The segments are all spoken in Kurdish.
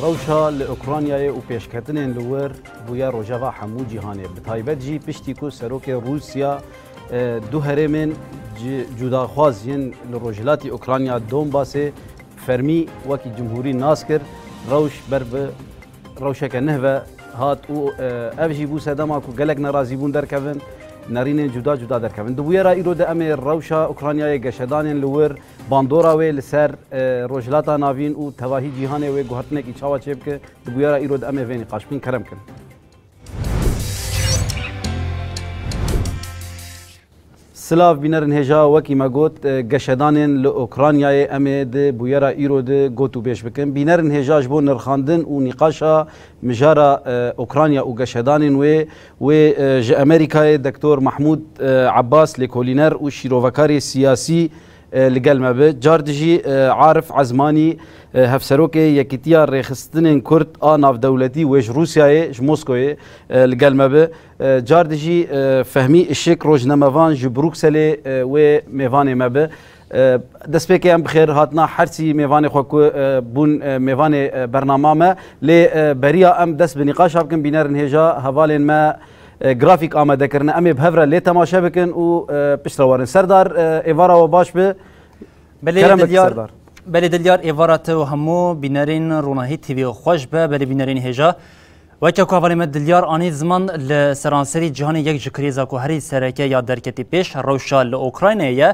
Rewşa li Ukraynayê û pêşketinên li wir bûye rojeva hemû cîhanê. Bi taybet jî piştî ku serokê Rûsya du herêmên cudaxwaz yên li rojhilatî Ukrayna Donbasê fermî wekî cumhurî nas kir, rewş ber bi rewşeke neh ve hat û ev jî bû sedema ku gelek nerazîbûn derkevin, nerînên cuda cuda derkevin. Di bûyera îro de em ê rewşa Ukraynayê geşedanên li wir, Bandora wê li ser Rojhilata Navîn û tevahî cîhanê wê guhertinekî çawa çê bike, di bûyera îro de em ê vê nîqaş bikin. Kerem kin. Silav bînerin hêja wekî me got geşedanên li Ûkranyayê em ê di bûyera îro de got û bêj bikin. Bînerin hêja ji bo nirxandin û nîqaşa mijara Ûkranya û geşedanên wê Wê ji Amerîkayê Doktor Mahmûd Ebas lêkolîner û şîrovekarê siyasî li gel me bi. Car dijî Arif Ezmanî Hevserokê Yekîtiya Rêxistinên Kurd a Navdewletî wê ji Rûsyayê ji Moskoyê li gel me bi. Car dijî Fehmî Işik rojnamevan ji Brukselê wê mêvanê me bi. Destpêkê em bi xêr hatina her sî mêvanê xwe ku bûn mêvanê bernama me. Lê beriya em dest bi nîqaşa bikin bînerin hêja hevalên me grafîk amade kirine. Em ê bi hev re lê temaşe bikin û pişt re werin. Serdar êvara we baş be. Belê Dilyar Belê Dilyar êvara te û hemû bînerên Ronahî TV'ê xweş be. Belê bînerên hêja. Weke ku hevalên me dilyar anî ziman li seranserî cîhanê yek ji krîza ku herî sereke ya derketî pêş rewşa li Okraynayê ye.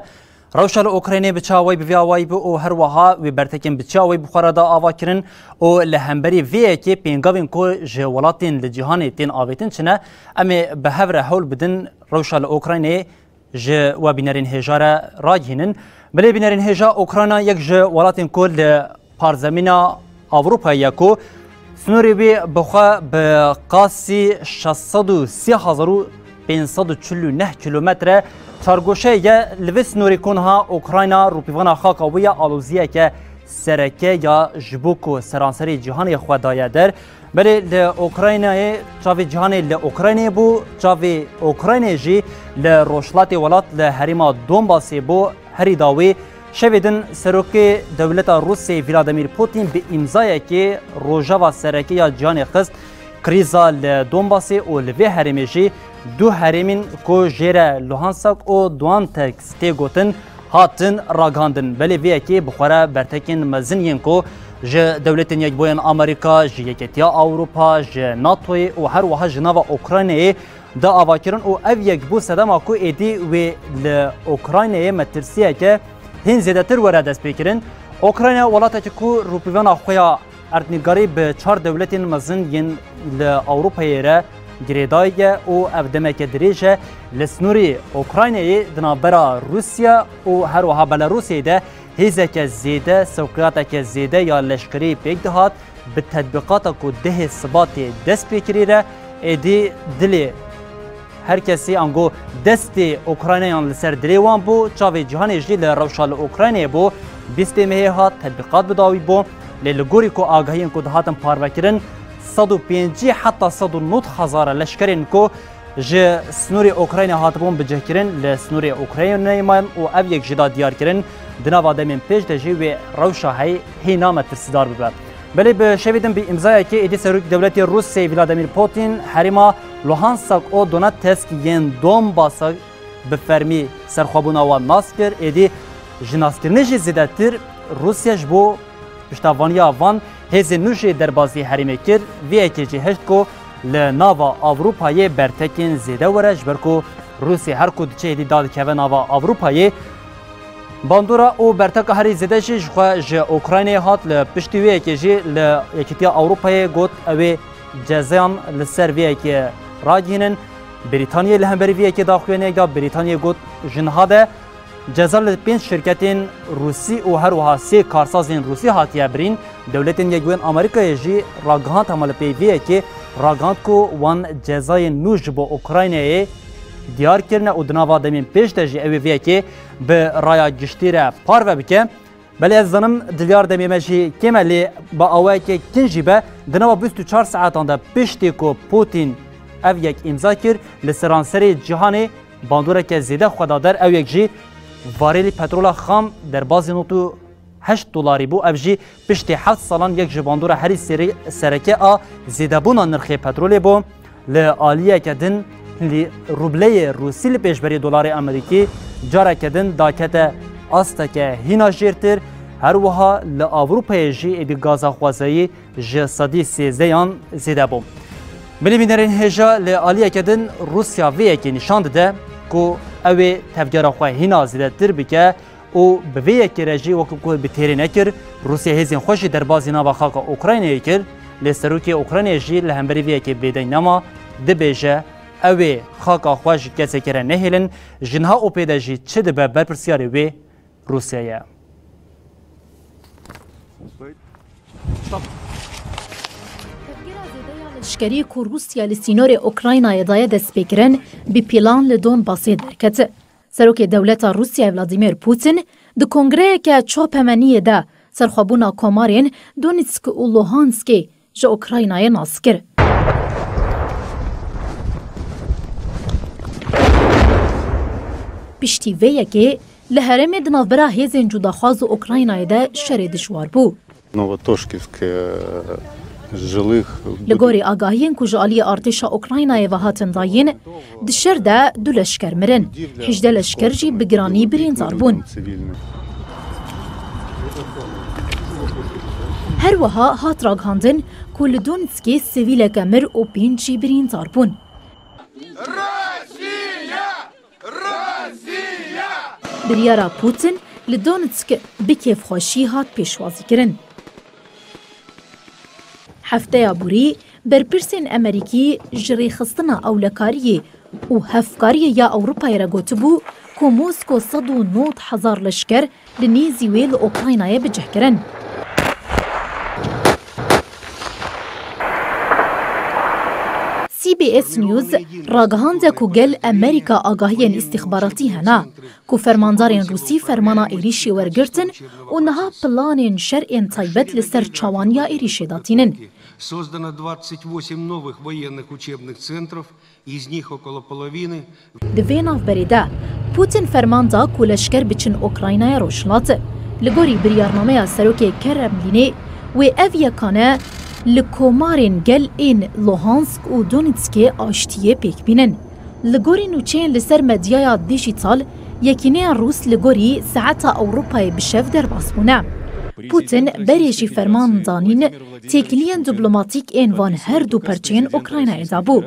Rewşa li Okraynayê bi çawa wê bi vê awayî bû û her weha wê bertekên bi çiya wê bi xwe re da ava kirin û li hemberî vê yekê pêngavên ku ji welatên li cîhanê tên avêtin çi ne? Em ê bi hev re hewl bidin rewşa li Okraynayê Ji we bînerên hêja re ragihînin. Bilê bînerên hêja Ukrayna yek ji welatên ku li parzemîna Ewropayê ye ku snorê wê bi xwe bi qasî şeş sed û sî hezar û pênc sed û çil û neh kîlometre çargoşeyê ye li vê snorê ku niha Ukrayna rûpîvana xaka wê ye aloziyeke sereke ya ji bo ku seranserê cîhanê xwe daye der Belê li Ukraynayê çavê cîhanê li Ukraynayê bû, çavê Ukraynayê jî li rojhilatê welat li herêma Donbasê bû. Herî dawî şevê din serokê dewleta Rûsê Vladimir Putin bi îmzayekê rojeva sereke ya cîhanê xist krîza li Donbasê û li vê herêmê jî Du herêmên ku jê re Luhansak û Duantex tê gotin hatin ragihandin, belê vê yekê bi xwe re bertekên mezin yên ku ji Dewletên Yekbûyên Amerîka, ji Yeketiya Ewropa, ji NATO'yê û her wiha ji nava Ukraynayê di avakirin û ev yekbû sedema ku êdî wê li Ukraynayê metirsiyeke hîn zêdetir were destpêkirin. Ukrayna welatekî ku rûpîvana xwe ya Erdnîgarî bi çar dewletên mezin yên li Ewropayê re girêdayî ye û ev demeke dirêj e li snûrê Ûkraynayê di navbera Rûsya û her wiha Belarûsê de hêzeke zêde, sewqiyateke zêde ya leşkerî pêk dihat, bi tedbîqata ku dehê Sibatê dest pê kirî re êdî dilê. Her kesî ango destê Ukraynayan li ser dilê wan bû, çavê cîhanê jî li rewşa li Ukraynayê bû. Bîstê mehê hat tedbîqat bi dawî bû. Lê li gorî ku agahiyên ku dihatin parvekirin sed û pêncî heta sed û nod hezar leşkerên ku ji snorê Ukraynayê hatibûn bicihkirin li snorê Ukraynayê mayen û ev yek jî da diyarkirin di nava demên pêş de jî wê rewşa heyî hê name tirsidar bibe. Belê bi şevê din bi îmzayekê êdî Serokê Dewletê Rûsê Vladimir Putin herêma Luhansak û Donetsk yên Donbasa bi fermî serxwebûna wan nas kir, êdî ji naskirinê jî zêdetir Rûsya ji bo piştevaniya van hêzên nû jê derbasî herêmê kir, vê yekê jî hişt ku li nava Ewropayê bertekên zêde were ji ber ku Rûsya her ku diçe êdî da dikeve nava Ewropayê. Bandora û berteka herî zêde jî jixwe ji Ûkraynayê hat, li piştî wê yekê jî li Yekîtiya Ewropayê got ew ê Cezayan li ser vê yekê ragihînin. Brîtanyayê li hemberî vê yekê daxuyaniyek da Brîtanyayê got ji niha de ceza li pênc şirketên Rûsî û her wiha sê karsazên Rûsî hatiye birîn. Dewletên Yekbûyên Amerîkayê jî ragihand hema li pey vê yekê ragihand ku wan cezayên nû ji bo Ukraynayê diyar kirine û di nava demên pêş de jî ew ê vê yekê bi raya giştî re parve bike. Belê ez zanim divyar demê me jî kêm e lê bi awayekê kin jî be di nava bîst û çar saetan de piştî ku Pûtîn ev yek îmza kir li seranserê cîhanê bandoreke zêde xwe da der ew yek jî varêlî petrola xam derbazî nod û heşt dolarî bû ev jî piştî heft salan yek ji bandora herî sereke a zêdebûna nirxê petrolê bû. Li aliyeke din li rubleyê rûsî li pêşberî dolarê amerîkî careke din dakete asteke hîna jêrtir, her wiha li Ewropayê jî êdî gaza xwezayî ji sedî sêzdeh yan zêde bû. Milî bînerên hêja li aliyeke din Rûsya vê yekê nîşan dide ku ew ê tevgera xwe hîna zêdetir bike û bi vê yekê re jî wekî ku bi têrê nekir, Rûsya hêzên xwe jî derbazî nava xaka Ukraynayê kir, lê serokê Ukraynayê jî li hemberî vê yekê bêdeng nema, dibêje, Ew ê xaka xwe ji kesekê re nehêlin, ji niha û pê de jî çi dibe berpirsyarê wê Rûsya ye. Leşkerî ku Rûsya li sînorê Ukraynayê daye destpêkirin, bi pîlan li Donbasê derket. Serokê dewleta Rûsyayê Vladîmîr Pûtîn di kongreyeke çapemeniyê de serxwebûna komarên Donîtsk û Luhanskê ji Ûkraynayê nas kir. Piştî vê yekê li herêmê di navbera hêzên cûdaxwaz û Ûkraynayê de şerê dijwar bû. Li gorî agahiyên ku ji aliyê artêşa Ukraynayê ve hatin dayîn, di şer de du leşker mirin, hîjdeh leşker jî bi giranî birîndar bûn. Her wiha hat ragihandin ku li Donetskê sivîleke mir û pênc jî birîndar bûn. Biryara Putin li Donetsk bi kêfxweşî hat pêşwazîkirin. Hefteya borî berpirsên Emerîkî ji rêxistina ewlekariyê û hevkariyê ya Ewropayê re gotibû ku Mosko sed û nod hezar leşker Li nêzî wê li Okraynayê bi cih kirin. CBS News ragihand ku gel Amerîka agahiyên îstîxbaratî hene ku fermandarên Rûsî fermana êrîşê wergirtin û niha planên şer ên taybet li ser çawaniya êrîşê da tînin. Di vê navberê de Putin ferman da ku leşker biçin Ûkraynaya Rojhilatê. Li gorî biryarnameya Serokê Keremlînê wê ev yekane li komarên gel ên Luhansk û Donetskê aştiyê pêk bînin. Li gorî nûçeyên li ser medyaya dîjîtal, yekîneya Rûs li gorî saeta Ewropayê bi şev derbas bûne. Putin berê jî ferman danîn Têkiliyên diplomatîk ên van her du perçeyên Ukraynayê de bû.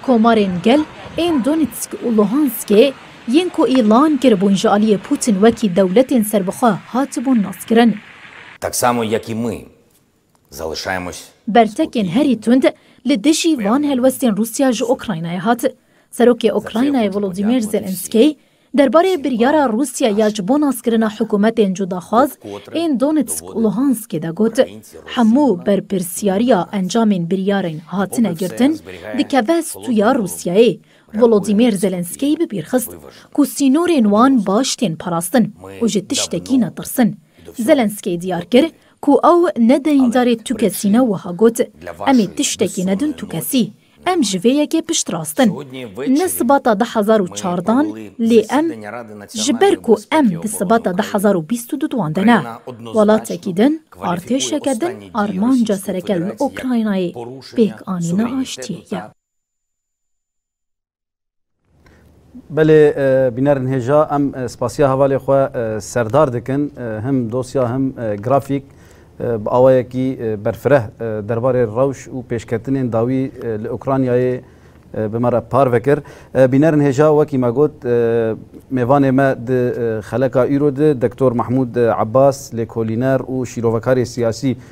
Komarên gel ên Donetsk û Luhanskê yên ku îlan kiribûn ji aliyê Putin wekî dewletên serbixwe hatibûn naskirin. Tak samo jak i my, zalışaymos. Bertekên herî tund li dijî van helwestên Rûsya ji Ukraynayê hat. Serokê Ukraynayê Volodymyr Zelensky Derbarê biryara Rûsya ya ji bo naskirina hikûmetên cudaxwaz ên Donetsk û Luhanskê de got, Hemû berpirsyariya encamên biryarên hatine girtin dikeve stûya Rûsyayê. Volodîmyr Zelensky bi bîr xist ku sînorên wan baş tên parastin û ji tiştekî netirsin. Zelensky diyar kir ku ew ne deyndar e tu kesî ne wiha got, Em ê tiştekî nedin tu kesî. Em ji vê yekê piştrast in. Ni sibata du hezar û çardan lê em ji ber ku em di sibata du hezar û bîst û du dwande ne. Welatekî din, artêşeke din armanca sereke li Okraynayê pêkanîna aştiyê ye. Belê bînerên hêja em spasiya hevalê xwe serdar dikin him dosya him grafîk bi awayekî berfireh derbarê rewş û pêşketinên dawî li Ukraynayê bi me re parve kir. Bînerên hêja wekî me got mêvanê me di xeleka îro de Doktor Mahmûd Ebas lêkolîner û şîrovekarê siyasî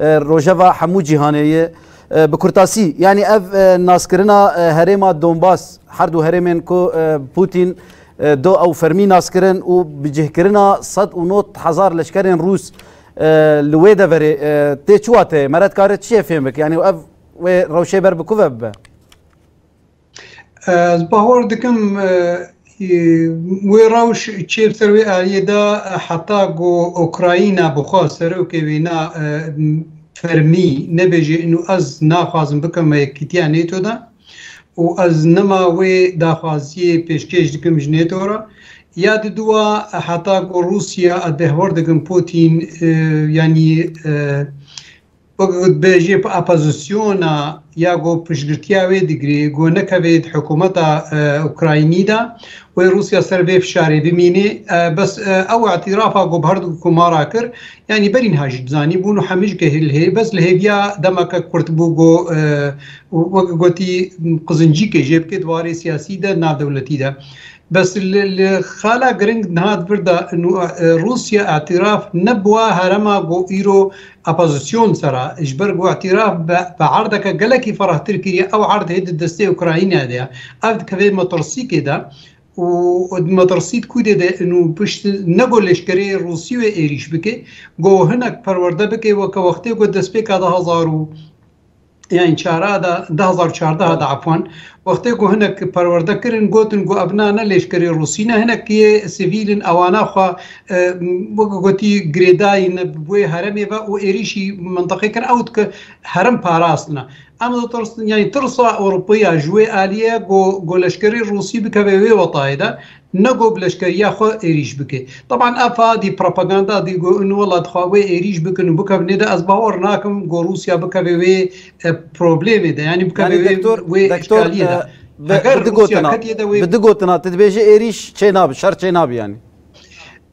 Rojeva hemû cîhanê ye. Bi kurtasî yanî ev naskirina herêma Donbas her du herêmên ku Pûtîn do ew fermî naskirin û bi cihkirina sed û not hezar leşkerên Rûs li wê deverê tê çiwatê meret kare çiyê fêm bik yanî ev wê rewşê ber bi ku ve bibe. Ez bawer dikim wê rewş çê ser wê aliyê de heta ku Ukrayna bixwe serokê wê ne fermî nebêje û ez naxwazim bikim me yekîtiya NATO de û ez nema wê daxwaziyê pêşkêş dikim ji NATO re. Ya di duwa heta ku Rûsya ez dehwar dikim Pûtîn yanî Wek gotbêjê opozisyona ya ku piştgirtiya wê digirê ku nekeve di hikûmeta Ukraynî de wê Rûsya ser vê fişarê bimînê. Bes ew îtîrafa ku bi her du komara kir yanî berî niha jî dizanî bûn û hemî jî ke li bes li hêviya demeke kurt bû ku wek gotî qizincîkê jê bike di warê siyasî de navdewletî de. Bes li xala giring niha di vir de Rûsya îtîraf ne bi wa herema ku îro Opozîsyon sera ji ber ku îtiraf bi erdeke gelekî ferahtir kiriye, ew erd hê di destê Ukraynayê de ye. Ev dikeve metirsîkê de û di metirsît kûdê de in û pişt ne ku leşkerê Rûsî wê êrîş bike, ku hinek perwerde bike weke wextê ku destpêka du hezar û. yani çara da da hezar û çardeh da efwan wextê ku hinek perwerde kirin gotin ku ev nane lêşkerê Rûsî ne hinek yê sivîlin ewana xwe weke gotî girêdayîn wê heremê ve û êrîşî mintiqê kir ew dike herem parastina. Em ditirsin yani tirsa Ewropeya ji wê alîye ku ku leşkerê Rûsî bikeve wê wetayê de Nego bi leşkeriya xwe êrîş bike. Teban ev fadî propaganda dî ku in wela dixwe wê êrîş bikin û bikevin nê de ez bawer nakim ku Rûsya bikeve wê problemê de yanî bikeve wê wê îşgaliyê de. Heger Rûsya ketiye de wê. Bi du gotina tu dibêjî êrîş çê nabe, şer çê nabe yanî.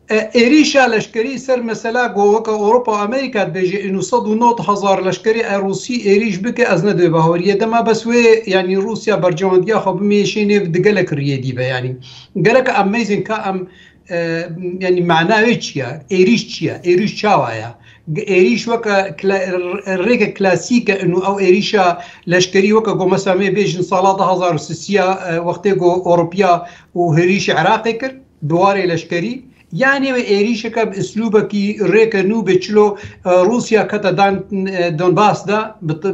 Êrîşa leşkerî ser mesela ku weke Ewropa Amerîka dibêje êno sed û nod hezar leşkerî ew Rûsî êrîş bike ez ne divê bawer yê dema bes wê yanî Rûsya bercewandiya xwe bimêşê nêv di gelek riyê dî be yanî gerek em mêzin ka em yanî mena wê çi ye êrîş çi ye êrîş çawa ye êrîş weke rêke klasîk e êno ew êrîşa leşkerî weke ku mesela mêbêjin sala du hezar û sî ya wextê ku Ewropiya û hêrîşê Iraqê kir. Bi warê leşkerî, ya nêwê êrîşeke bi îslûbekî rêke nû bê çilo Rûsya kete dan Donbas de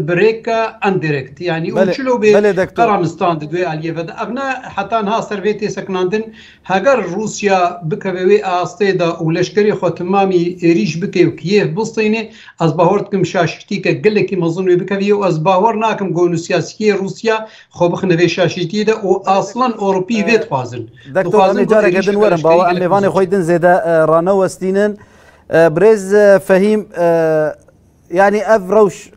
bi rêke indirekt yanî û çilo bê qeranistan di dwê aliyê ve de. Ev ne heta niha ser vê tê sekinandin. Heger Rûsya bikeve wê astê de û leşkerê xwe timamî êrîş bike û Kîyev bistînê, ez bawar dikim şaşîtîyeke gelekî mezin wê bikevî û ez bawar nakim gonû siyasîyê Rûsya xwe bixine vê şaşîtîyê de û aslan Ewropî vê dixwazin. Dektor em ê careke din werin bawe em mêvanê xwe din zêde ranewestînin. Birêz Fehîm yanî ev rewş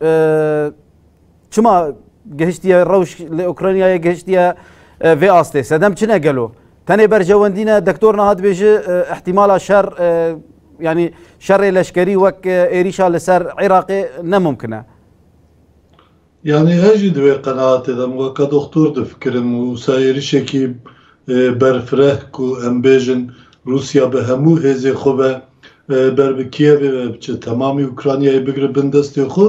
çima gihiştiye rewş li Ukraynayê gihiştiye vê astê sedem çine gelo. Tenê berjewendîne dektor niha dibêji ihtimala şer yanî şerê leşkerî wek êrîşa li ser Iraqê nemumkine. Yanî ez jî di wê qenaatê de im, weke doxtor difikirim û wisa êrişekî berfireh ku em bêjin Rûsya bi hemû hêzên xwe ve ber bi Kîevê ve biçe, temamî Ukraynayê bigire bin destê xwe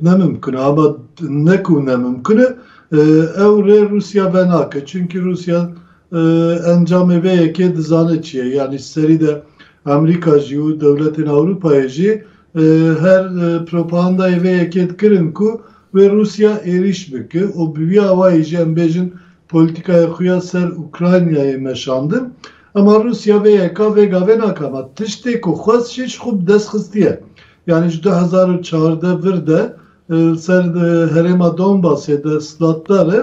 ne mimkun e. Ama ne ku ne mimkun e, ew rê Rûsya venake. Çimkî Rûsya encamê vê yekê dizane çi ye. Yanî serî de Amerîka jî û dewletên Ewropayê jî Her propagandayê vê yekê dikirin ku wê Rûsya êrîş bike û bi vî awayî jî em bêjin polîtîkaya xwe ya ser Ukraynayê meşandin. Ema Rûsya vê yeka vê gavê nake ma tiştê ku xwest jî ji xwe bi dest xistiye. Yanî ji du hezar û çardeh vir de li ser herêma Donbasê de siladdar e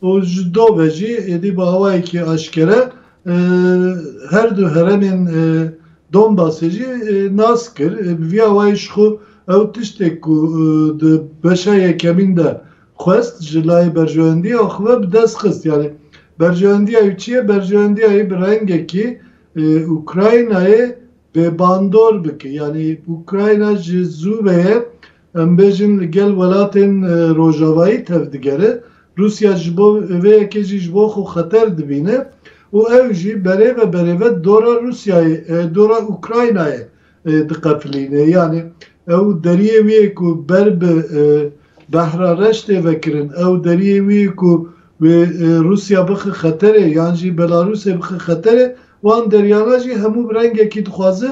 û ji do ve jî êdî bi awayekî eşkere Her du heremên Donbasê jî nas kir. Bi vî awayî ji xwe ew tiştê ku di beşa yekemîn de xwest ji layê berjewendiya xwe ve bi dest xist. Yanî berjewendiya wî çi ye? Berjewendiya wî bi rengekî Ukraynayê bêbandor bike. Yanî Ukrayna ji zû ve ye Em bêjin li gel welatên rojavayî tev digere, Rûsya ji bo vê yekê jî ji bo xwe xeter dibîne û ew jî berêve berêve dora Rûsyayê, dora Ukraynayê diqefilîne. Yanî ew deriyê wî yê ku ber bi behra reş tê vekirin, ew deriyê wî yê ku wê Rûsya bixe xeterê yan jî Belarûsê bixe xeterê, wan deriyana jî hemû bi rengekî dixwaze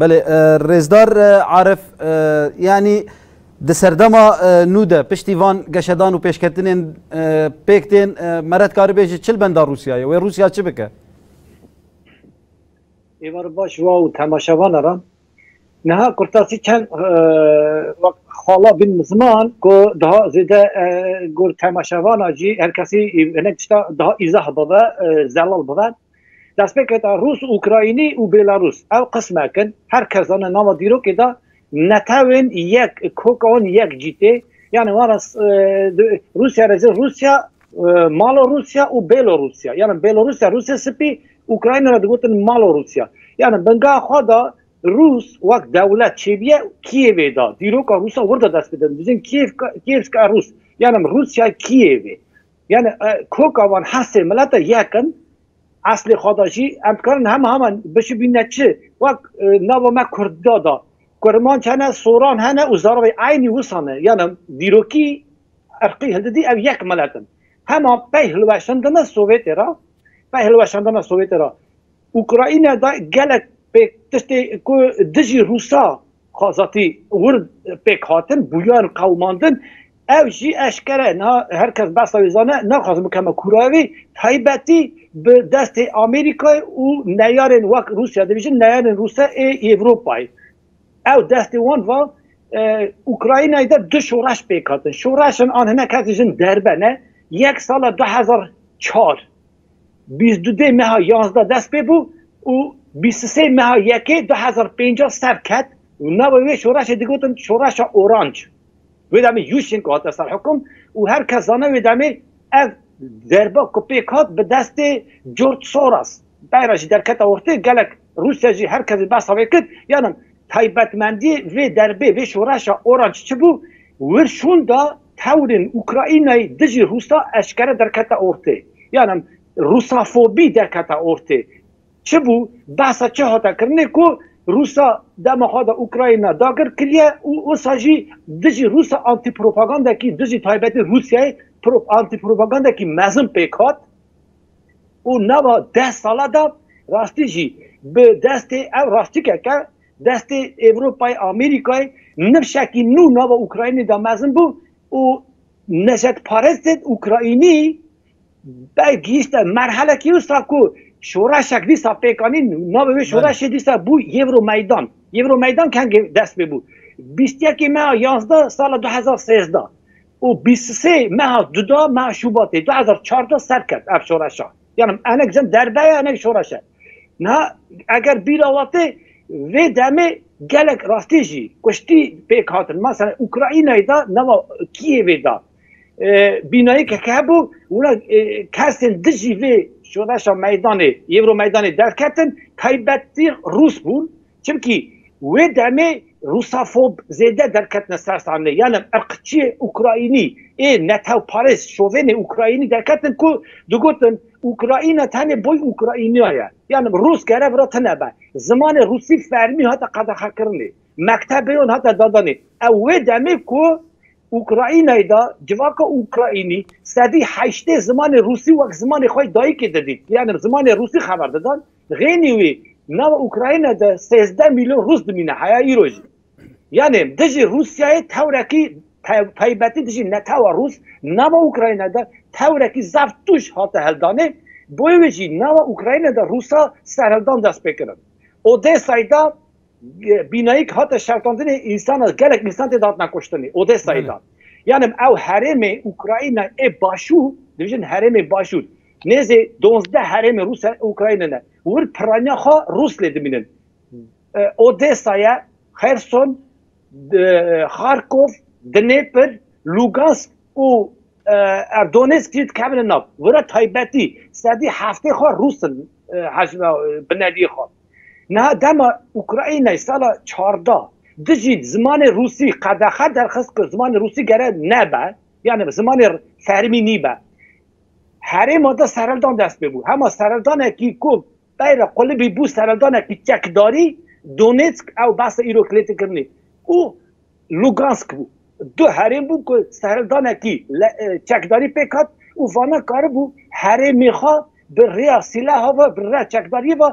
Belê rêzdar Arif yanî di serdema nû de piştî van geşedan û pêşketinên pêk tên me re dikarî bêjî çi li benda Rûsya ye wê Rûsya çi bike? Êvar baş wa û temaşevana re niha kurtasî çend xala bin ziman ku daha zêde gor temaşevana jî her kesî hinek tişta daha îzah bibe zelal bibe Destpêketa Rûs-Ukraynî û Bêlarûs ew qismek in, her kes dane nava dîrokê de netewên yek kok an yek cîtê, yanî wan re Rûsya re zê Rûsya, Malorûsya û Bêlorûsya. Yanî Bêlorûsya Rûsê Sipî, Ukraynî re digotin Malorûsya. Yanî bingeha xwe de Rûs wek dewlet çêbîye Kîyevê de. Dîroka Rûsa wir de dest pê didin, dibijin Kîyevska Rûs, yanî Rûsyay Kîyevê. Yani koka wan hesê milete yek in, eslê xwe de jî em dikarin hema hema bişibîne çi? Wek nava me Kurdda de Kurmanc hene, Soran hene û Zarabê eynî wisa ne. Yani dîrokî irqî hildidî ew yek milet in. Hema pey hilweşandina Sowêtê re, pey hilweşandina Sowêtê re Ukrayne de gelek pêk tiştê ku dijî Rûsa xwezatî wir pêk hatin, bûyan qewimandin. Ev jî eşkere ne her kes behsa wê zane, naxwazin bikeme kûraya wî, taybetî bi destê Amerîkayê û neyarên wek Rûsya dibêjin neyarên Rûse ê Ewropayê. Ew destê wan va Ukraynayê de du şoreş pêk hatin. Şoreşan an hinek hevdî jin derbe ne. Yek sala du hezar çar bîst du dê meha yanzdeh dest pê bû û bîst u sê meha yekê du hezar pênceh ser ket û nava wê şoreşê digotin şoreşa oranc. Wê demê Yushchenko hate serhikum û her kes zane wê demê ev derba ku pêk hat bi destê George Soros bera jî derkete ortê gelek Rûsya jî her kes jî behsa wê kir. Yanan taybetmendiyê vê derbê vê şoreşa oranc çi bû? Wirşûnda tewrên Ukraynayê dijî Rûsa eşkere derkete ortê. Yanan Rûsafobî derkete ortê. Çi bû? Behsa çi hate kirinê ku Rûsa dema xwe de Ukrayna dakir kiriye û wisa jî dijî Rûsa antîpropagandekî dijî taybetî Rûsyayê antîpropagandekî mezin pêk hat û nava deh sala de rastî jî bi destê ev rastikek e destê Ewropayê Amerîkayê nifşekî nû nava Ukraynê de mezin bû û neşetparestên Ukraynî Belk gihîşte merhelekî wisa ku şoreşek dîsa pêk anî navê wê şoreşê dîsa bû Yêvro Meydan. Yêvro Meydan kengê dest pê bû? Bîst yekê meha yazdeh sala du hezar sêzdeh û bîst û sê meha duda meha Şubatê du hezar çardeh ser ket ev şoreşa. Yan hinek jin derbe ye hinek şoreş e. Niha eger bîra we tê vê demê gelek rastî jî kuştî pêk hatin. Meselen Ukraynayê de nava Kîyevê de. bînayekek hebû wina kesên dijî vê şoreşa meydanê yêwro meydanê derketin taybetî rûs bûn çimkî wê demê rûsafob zêde derketine ser sahnê yanî irqçiyê ukrayînî ê netewparêz şovênê ukrayînî derketin ku digotin ukrayîna tenê boy ukrayîniya ye yanî rûs kere vira tune be zimanê rûsî fermî hate qedexekirinê mektebeyon hate dadanê ew wê demê ku Ukraynayê de civaka Ukraynî sedî heştê zimanê rûsî wek zimanê xwe yê dayîkê didîn. Yanim zimanê rûsî xeber didan. Xênî wî nava Ukraynayê de sêzdeh mîlyon rûs dimîne heya îro jî. Yanim dijî Rûsyayê tewrekî taybetî dijî netewa rûs nava Ukraynayê de tewrekî zaf tûj hate hildanê. Bo wê jî nava Ukraynayê de rûsa serhildan dest pê kirin. Odesayê de Bînayîk hate şewitandinê însan e, gelek însan tê de hatine kuştinê, Odesayê de. Yanê min ew herêmê Ukrayna ê Başû, dibêjin herêmê Başûr, nêzê dozdeh herêmê Rûsya ê Ukrayna ne. Wir piraniya xwe Rûs lê dimînin. Odesa ye, Xerson, Xarkov, Dinêpir, Lûgansk û Donêsk jî dikevin nav. Wira taybetî sedî heftê xwe Rûs in binediyê xwe. Niha dema Ukraynayê sala çardeh dijî zimanê rûsî qedexe derxist ku zimanê rûsî gere nebe yanî zimanê fermî nîbe, herêma de sereldan dest pê bû. Hema sereldanekî ku beyra qulibî bû sereldanekî çekdarî, Donetsk ew behsa îro klêtikirinê û Lugansk bû. Du herêm bûn ku sehrevdanekî çekdarî pêk hat û van a karibû herêmê xwe bi rêya sîleha ve, bi rêya çekdariyê ve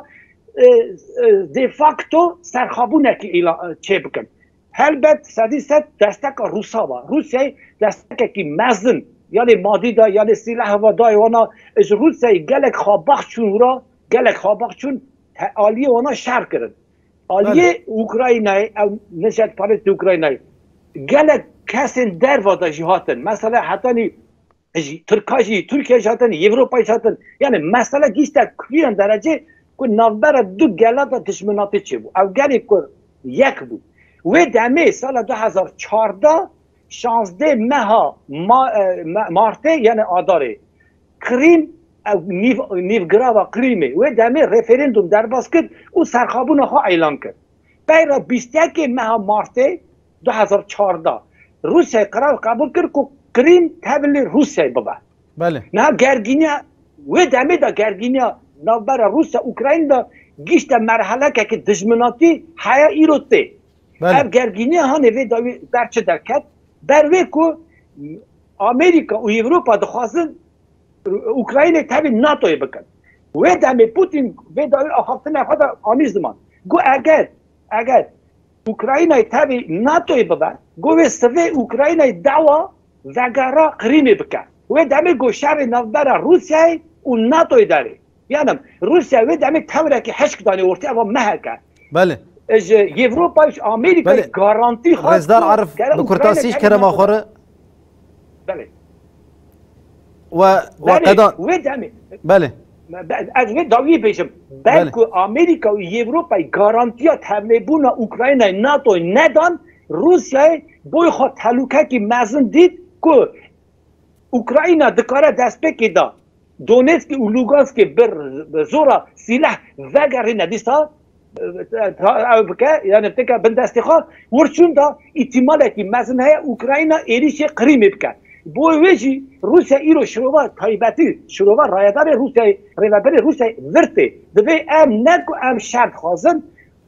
de facto serxabûnekî îlan çêbikin. Helbet sedî sed desteka Rûsa ve. Rûsyayê destekekî mezin yanê madî da, yanê sîleh ve dayê wan a. Ji Rûsyayê gelek xwe bax çûn wira, gelek xwe bax çûn aliyê wan a şer kirin. Aliyê Ukraynayê ew neşetperestê Ukraynayê gelek kesên derva de jî hatin. Mesela hetanî ji Tirka jî, Tirkiye jî hatin, Ewropayê jî hatin. Yanî mesela gihîşte kiriya derecê ku navbera du gela de dijminatî çêbû. Ew gelê ku yek bû. Wê demê sala du hezar û çardeh şazdeh meha Martê yanî Adarê Qirîm ew nîv nîvgirava Qirîmê wê demê referendum derbas kir û serxabûna xwe elan kir. Peyra bîst yekê meha Martê du hezar û çardeh Rûsyayê qerar qebûl kir ku Qirîm tevlî Rûsyayê bibe. Belê. Niha gergîniya wê demê de gergîniya di navbera Rûsya û Ukraynî de gihîşte merhelekekî dijminatî heya îro tê. Ev gergînî hanê vê dawî ber çi derket? Ber wê ku Amerîka û Ewropa dixwazin Ukraynayê tevî NATOyê bikin. Wê demê Putin vê dawî axaftina xwe de anî ziman. Got eger eger Ukraynayê tevî NATOyê bibe, got wê sivê Ukraynayê dawa vegera Qirîmê bike. Wê demê got şerê navbera Rûsyayê û NATOyê derê. Yanim, Rûsya wê demê tewrekî hişk danê ortê eva mehek e. Belê. Ji Yevropayê ji Amerîkayê garantî xwest. Rêzdar Arif bi kurtasî ji kerema xwe re. Belê. We we qedan. Wê demê. Belê. Ez wê dawiyê bêjim. Belku Amerîka û Yevropayê garantiya tevlêbûna Ukraynayê NATOyê nedan, Rûsyayê boy xwe telûkekî mezin dît ku Ukrayna dikare destpêkê da Donetskê û Luganskê bi zora sîleh vegerîne dîsa ew bike yanî tike bin destê xwe. Wirçûn de îtîmalekî mezin heye Ukrayna êrîşê Qirîmê bike. Bo wê jî Rûsya îro şirova taybetî, şirova rayedarê Rûsyayê, rêveberê Rûsyayê vir tê. Divê em ne ku em şer dixwazin,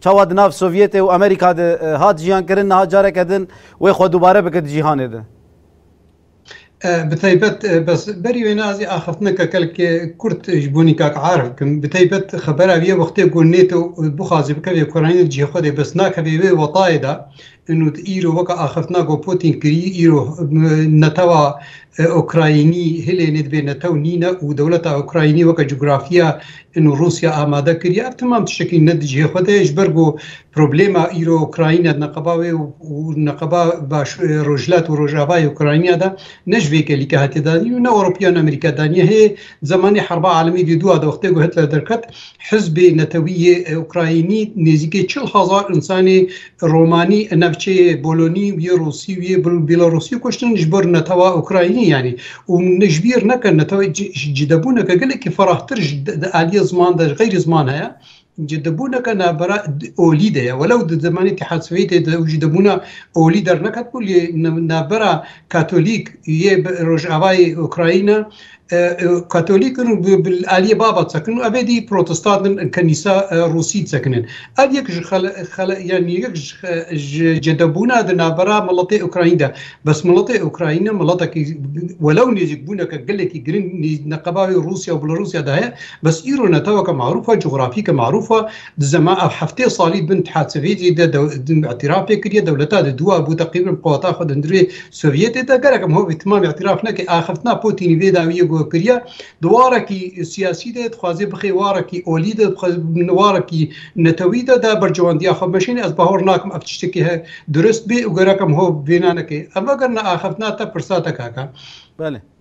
Çawa di nav Sovyetê û Amerîka de hat jiyankirin niha careke din wê xwe dubare bike di cîhanê de? Bi taybet bes berî wê nazî axiftineke kelkê kurt ji bo Nîkak Arif bikim. Bi taybet xebera wî ye wextê ku NATO bixwaze bikeve Ukraynayê di cihê xwe de bes nakeve wê wextayê de Û îro weka axiftina ku Pûtîn kirî, îro netewa Ukraynî hilê nê divê netew nîne û dewleta Ukraynî weke cografiya û Rûsya amade kiriye. Ev temam tiştekî ne di cihê xwe de ye ji ber ku problema îro Ukrayna di neqeba wê û neqeba baş rojhilat û rojavayê Ukrayna de ne ji vê kelîke hatiye danîn û ne Ewropiya ne Amerîka daniye. Hê zemanê herba alemî dê dûa de wextê ku Hitler derket hizbê netewî yê Ukraynî nêzîkê çil hezar însanê Romanî û navçeyê Bolonî û yê Rûsî û yê Bîlarûsî kuştin ji bo netewa Ukraynî yanî û min ji bîr neke netewê cidebûneke gelekî ferahtir ji di aliyê ziman de ji xeyrî ziman heye. Cidebûneke navbera olî de ye. Welew di zemanê Îtîhad Swêtê de cidebûna olî derneketibû lê navbera Katolîk yê rojavayê Ukrayna Katolîkin û bi aliyê baba disekin û evê dî protestantin kenîsa rûsî disekinin. Ev yek ji yanî yek ji cedebûna di navbera miletê Ukraynî de. Bes miletê Ukraynî miletekî welew nêzîkbûneke gelekî giring neqeba wê Rûsya û Belarûsya de heye bes îro neteweke marûf e, cografîke marûf e, Di zema ev heftê salî bin Thatsevêdjê de îtîraf pê kiriye, dewleta di dûa bû teqrîben qeweta xwe di hundirê Sovyetê de. Gerek em hovê timam îtîraf nekin, axiftina Pûtînî vê dawî yê guh kiriye. Di warekî siyasî de dixwaze bixê warekî olî de, warekî netewî de de bercewendiya xwe meşîne. Ez bawer nakim ev tiştekî he dirust bê û gerek em hov vêna nekin. Ev eger ne axiftina te pirsa te kaka. Belê.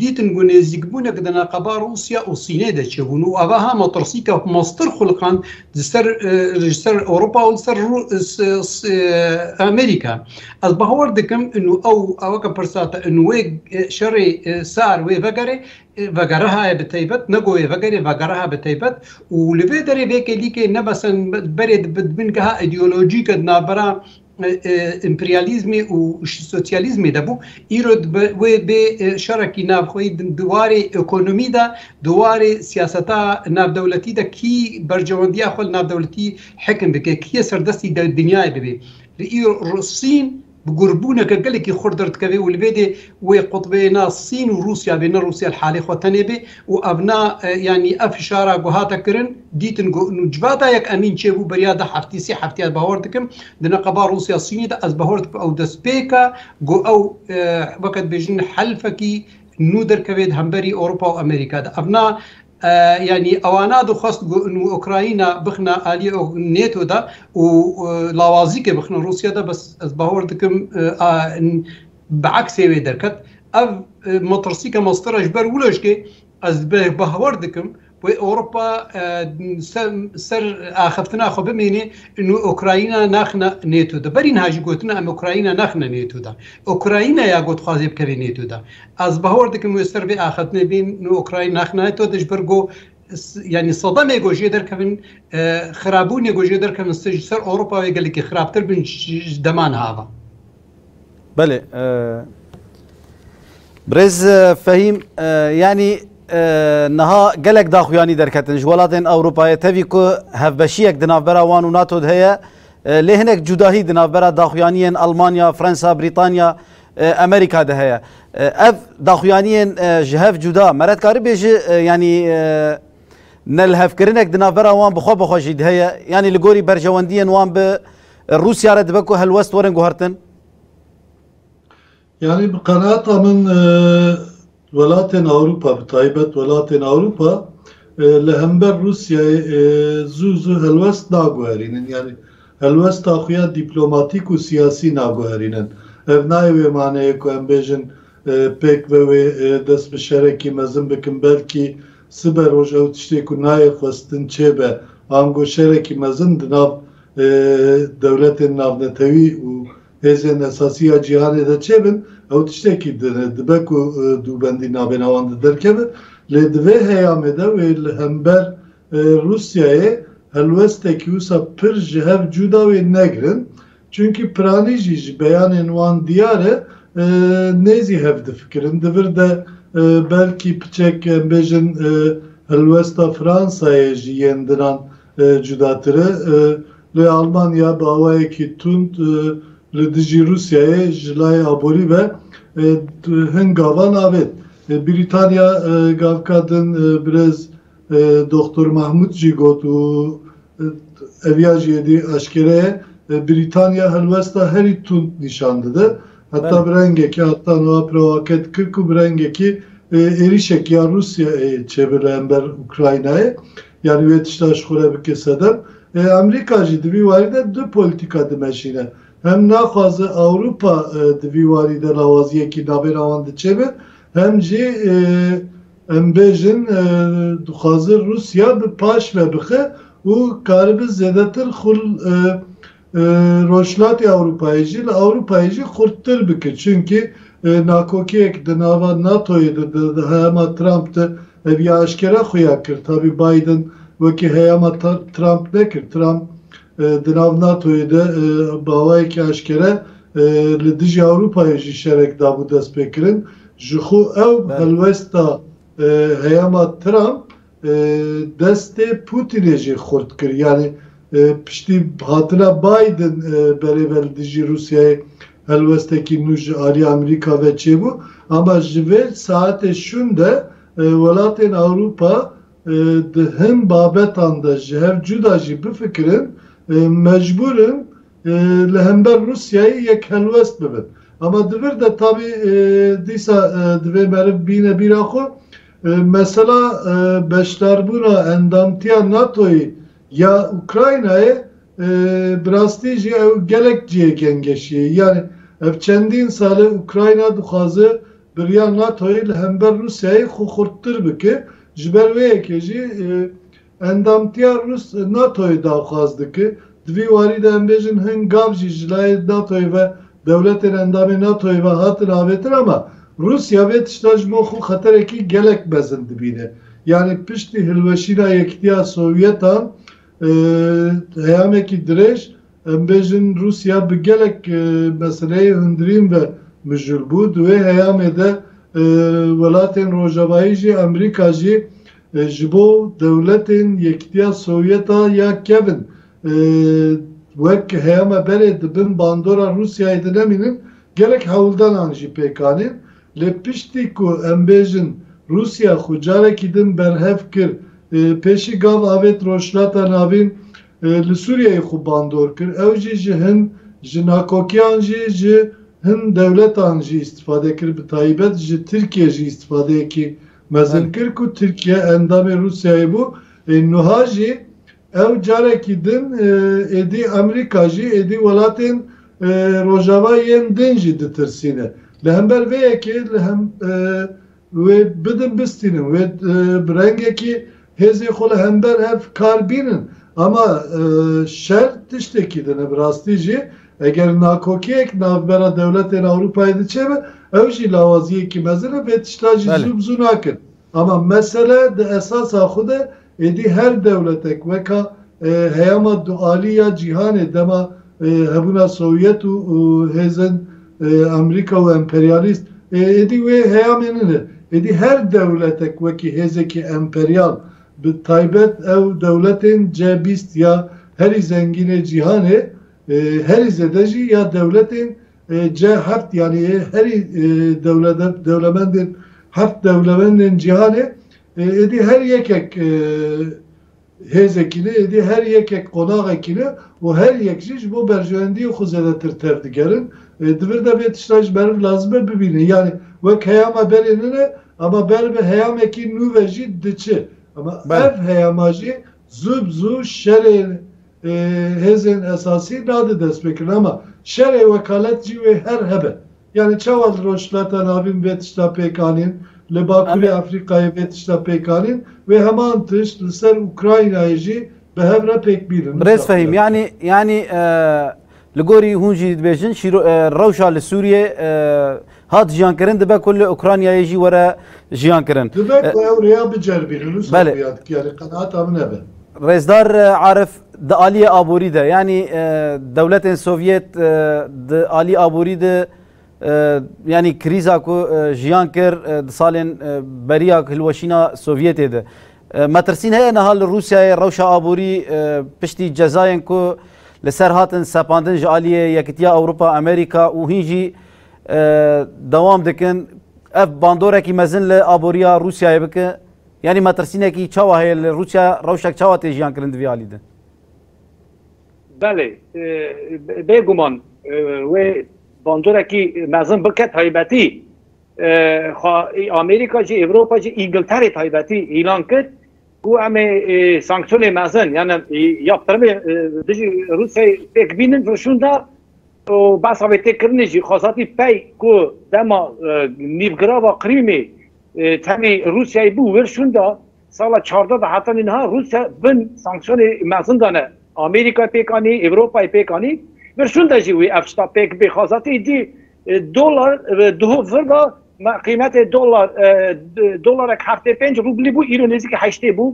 Dîtin ku nêzîkbûnek di neqeba Rûsya û Sînê de çêbûn û eveha metirsîka meztir xulqand di ser ji ser Ewropa û li ser Amerîka. Ez bawer dikim inu ew weke pirsa te inu wê şerê sar wê vegere vegerehaye bi teybet ne ku wê vegere vegereha bi teybet û li vê derê vê kêlîkê ne besen berê dibin geha îdeolojîke di navbera Împeryalîzmê û sosyalîzmê de bû. Îro dibe wê bê şerekî navxweyî din di warê ekonomî de, di warê siyaseta navdewletî de kî bercewendiya xwe li navdewletî hekim bike, kî yê serdestî dinyayê bibê. Li îro Sîn bi gurbûneke gelekî xurt derdikeve û li vê dê Wê qutbê na Sîn û Rûsya bê, ne Rûsya li halê xwe tenê bê û ev na yanî ev fişara ku hate kirin dîtin ku nû civata yek emîn çêbû beriya du heftî sê heftî ez bawer dikim di neqeba Rûsya Sînê de ez bawer dikim ew destpêka ku ew weke dibêjin helfekî nû derkevê di hemberî Ewropa û Amerîka de. Ev na yanî ewana dixwest ku nû Ukrayna bixine aliyê NATO de û lawazîkê bixine Rûsya de bes ez bawer dikim Bi eksê wê derket. Ev motorsîka mastera ji ber wilo jikê ez bawer dikim wê Ewropa ser axiftina xwe bimênê û Ukrayna naxine NATO de. Berî niha jî gotina em Ukrayna naxine NATO de. Ukrayna ya ku dixwaze bikeve NATO de. Ez bawer dikim wê ser vê axiftinê bên û Ukrayna naxine NATO de ji ber ku yanî sedemê ku jê derkevin xirabûnê ku jê derkevin ji ser Ewropa wê gelekî xirabtir bin ji dema niha ve. Belê. Birêz Fehîm yanî niha gelek daxuyanî derketin ji welatên Ewropayê tevî ku hevbeşiyek di navbera wan û NATO de heye lê hinek cudahî di navbera daxuyaniyên Almanya, Fransa, Brîtanya, Amerîka de heye. Ev daxuyaniyên ji hev cuda me re dikarî bêjî yanî nelhevkirinek di navbera wan bixwe bixwe jî di heye yanî li gorî berjewendiyên wan bi Li Rûsya re dibe ku helwest werin guhertin? Yanî bi qenaata min welatên Ewropa bi taybet welatên Ewropa li hember Rûsyayê zû zû helwest naguherînin. Yanî helwesta xwe ya dîplomatîk û siyasî naguherînin. Ev nayê wê maneyê ku em bêjin pêk ve wê dest bi şerekî mezin bikin belkî sibe roj ew tiştê ku nayê xwestin çêbe ango şerekî mezin di nav Dewletên navnetewî û hêzên esasî ya cîhanê de çê bin, ew tiştekî din e. Dibe ku dûbendî nabêhna wan de derkeve. Lê di vê heyamê de wê li hember Rûsyayê helwestekî wisa pir ji hev cûda wê negirin. Çunkî piranî jî ji beyanên wan diyar e nêzî hev difikirin. Di vir de belkî piçek em bêjin helwesta Fransayê ji yên dinan cudatir e. Lê Almanya bi awayekî tund li dijî Rûsyayê ji layê aborî ve hin gavan avêt. Brîtanya gavka din birêz Doxtor Mahmûd jî got û ev ya jî êdî eşkere ye, Brîtanya helwesta herî tund nîşan dide. Heta bi rengekî heta niha pirewake dikir ku bi rengekî êrîşek ya Rûsyayê çêbe li hember Ukraynayê. Yanî wê tiştan ji xwe re bike sedem. Amerîka jî di vî warî de du polîtîka dimeşîne. Hem naxwaze Ewropa di vî warî de lawaziyekî navbêra wan di çêbe, hem jî em bêjin dixwaze Rûsya bi paş ve bixe û karibe zêdetir xul Rojhilatê Ewropayê jî li Ewropayê jî xurttir bike çimkî nakokiyek di nava NATOyê de di heyama Trump de ev ya eşkere xuya kir tabî Biden wekî heyama Trump nekir Trump di nav NATOyê de bi awayekî eşkere li dijî Ewropayê jî şerek dabû destpêkirin jixwe ew helwesta heyama Trump Destê Putînê jî xurt kir. Yanî piştî hatina Biden berê ve li dijî Rûsyayê helwestekî nû ji aliyê Amerîka ve çêbû. Ama ji vê saetê şûn de welatên Ewropa di hin babetan de ji hev cuda jî bifikirin mecbûr in li hember Rûsyayê yek helwest bibin. Ama di vir de tabî dîsa divê meriv bîne bîra xwe Mesela beşdarbûna endamtiya NATO'yê ya Ukraynayê bi rastî jî ew gelek cihê gengeşî ye. Yanî ev çendîn sal e Ukrayna dixwaze biriya NATO'yê li hember Rûsyayê xwe xurttir bike. Ji ber wê yekê jî. Endamtiya Rûs li NATO'yê daxwaz dike. Di vî warî de em bêjin hin gav jî ji layê NATO'yê ve dewletên endamên NATO'yê ve hatin avêtin ama Rûsya vê tişta ji bo xwe xeterekî gelek mezin dibîne. Yanî piştî hilweşîna Yekîtiya Sowyetan heyamekî dirêj em bêjin Rûsya bi gelek meseleyê hundirîn ve mijûl bû. Di wê heyamê de welatên rojavayî jî Amerîka jî Ji bo dewletên Yekîtiya Sovyeta ya kevin wek heya me berê di bin bandora Rûsyayê de nemînin, gelek hewldanan jî pêk anîn. Lê piştî ku em bêjin Rûsya xwe carekî din berhev kir, pêşî gav avêt Rojhilata Navîn li Sûriyeyê xwe bandor kir, ew jî ji hin ji nakokiyan jî ji hin dewletan jî îstîfade kir, bi taybet ji Tirkiyê jî îstîfadeyekî Mezin kir ku Tirkiye endamê Rûsyayê bû ê nuha jî ew carekî din êdî Amerîka jî êdî welatên Rojava yên din jî ditirsîne. Li hember vê yekê li hem wê bidin bistînin wê bi rengekî Hêzên xwe li hember ev kar bînin. Ama şer tiştekî din e. Bi rastî jî eger nakokiyek navbera dewletên Ewropayê de çêbe, ew jî lawaziyekî mezin e, vê tişta jî zû bi zû nakin. Ama mesele di esasa xwe de êdî her dewletek weka heyama dualî ya cîhanê dema hebûna Sovyet û hêzên Amerîka û emperyalîst ê êdî wê heyamê nine. Êdî her dewletek wekî hêzekî emperyal bi taybet ew dewletên C bîst ya herî zengînê cîhanê herî zêde jî ya dewletên C heft yanî yê herî dewlemendên heft dewlemendên cîhanê êdî her yekek Hêzekî li êdî her yekek qonaxekî li û her yek jî ji bo berjewendiyên xwe zêdetir tev digerin. Di vir de vê tişta ji meriv lazim e bibîne. Yanî wek heyama berê nin e ema ber bi heyamekî nû ve jî diçi. Ema ev heyama jî zû bi zû şerê hêzên esasî nade destpêkirin. Ema şerê wekalet jî wê her hebe. Yanî çawa li Rojhilata Navîn vê tişta pêk anîn, li Bakurê Efrîkayê vê tişta pêk anîn, wê heman tişt li ser Ukraynayê jî bi hev re pêk bînin. Birêz Fehîm, yanî yanî li gorî hûn jî dibêjin şîro rewşa li Sûriyê hat jiyankirin dibe ku li Ukraynayê jî were jiyankirin. Dibe ku ew rêya biceribînin, wisa bûyad ki yanî qenaata min ev e. Rêzdar Arif, Di aliyê aborî de yanî dewletên Sovyet di alî aborî de yanî krîza ku jiyan kir di salên beriya hilweşîna Sovyetê de. Metirsîn heye niha li Rûsyayê rewşa aborî piştî cezayên ku li ser hatin sepandin ji aliyê Yekîtiya Ewropa, Amerîka û hîn jî dewam dikin. Ev bandorekî mezin li aboriya Rûsyayê bike. Yanî metirsînekî çawa heye li Rûsya, rewşek çawa tê jiyankirin divê alî de? Belê, bêguman wê bandorekî mezin bike taybetî xwe Amerîka jî, Ewropa jî, Îngilterê taybetî îlan kir ku em ê sanksyonê mezin yani yaptırımê dijî Rûsyayê pêk bînin rûşûnda û behsa wê tê kirinê jî xwezatî pey ku dema nîvgirava Qrîmê Tenê Rûsyayê bû wir şûnda sala çardeh de heta nînha Rûsya bin sanksiyonê mezin de ne. Amerîkayê pêk anî, Ewropayê pêk anî. Vir şûnda jî wê ev tişta pêk bê. Xwezatî îdî dolar duhov vir da. Me qîmetê dolar dolarek heftê û pênc rûblî bû îro nêzîkî heştê bû.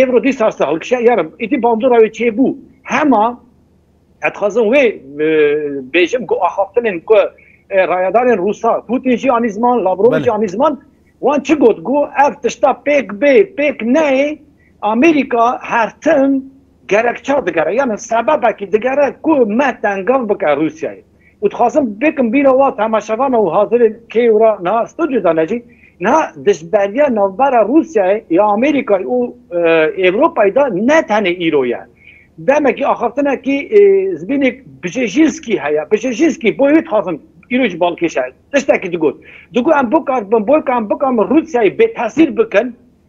Ewro dîsa se hilkişe. Yarim îdî bandora wê çêbû. Hema. Ez dixwazim wê bêjim ku axaftinên ku rayedarên Rûsa, Pûtîn jî anî ziman, Lavrov jî anî ziman, wan çi got ku ev tişta pêk bê, pêk neyê, Amerîka her tim gerekçe digere, yanî sebebekî digere ku me tengav bike Rûsyayê. û dixwazim bikim bîra wan temaşevan û hazirên kê û ra niha studyo de ne jî niha dijberiya navbera Rûsyayê ya Amerîkayê û Ewropayê de ne tenê îro ye. Demekî axaftinekî zbînêk Bjejinskî heye. Bjejinskî boyê wê dixwazim îro jî balkêşe tiştekî digot. Digot em bikarbin boyka em bikarin Rûsyayê bêtesîr bikin.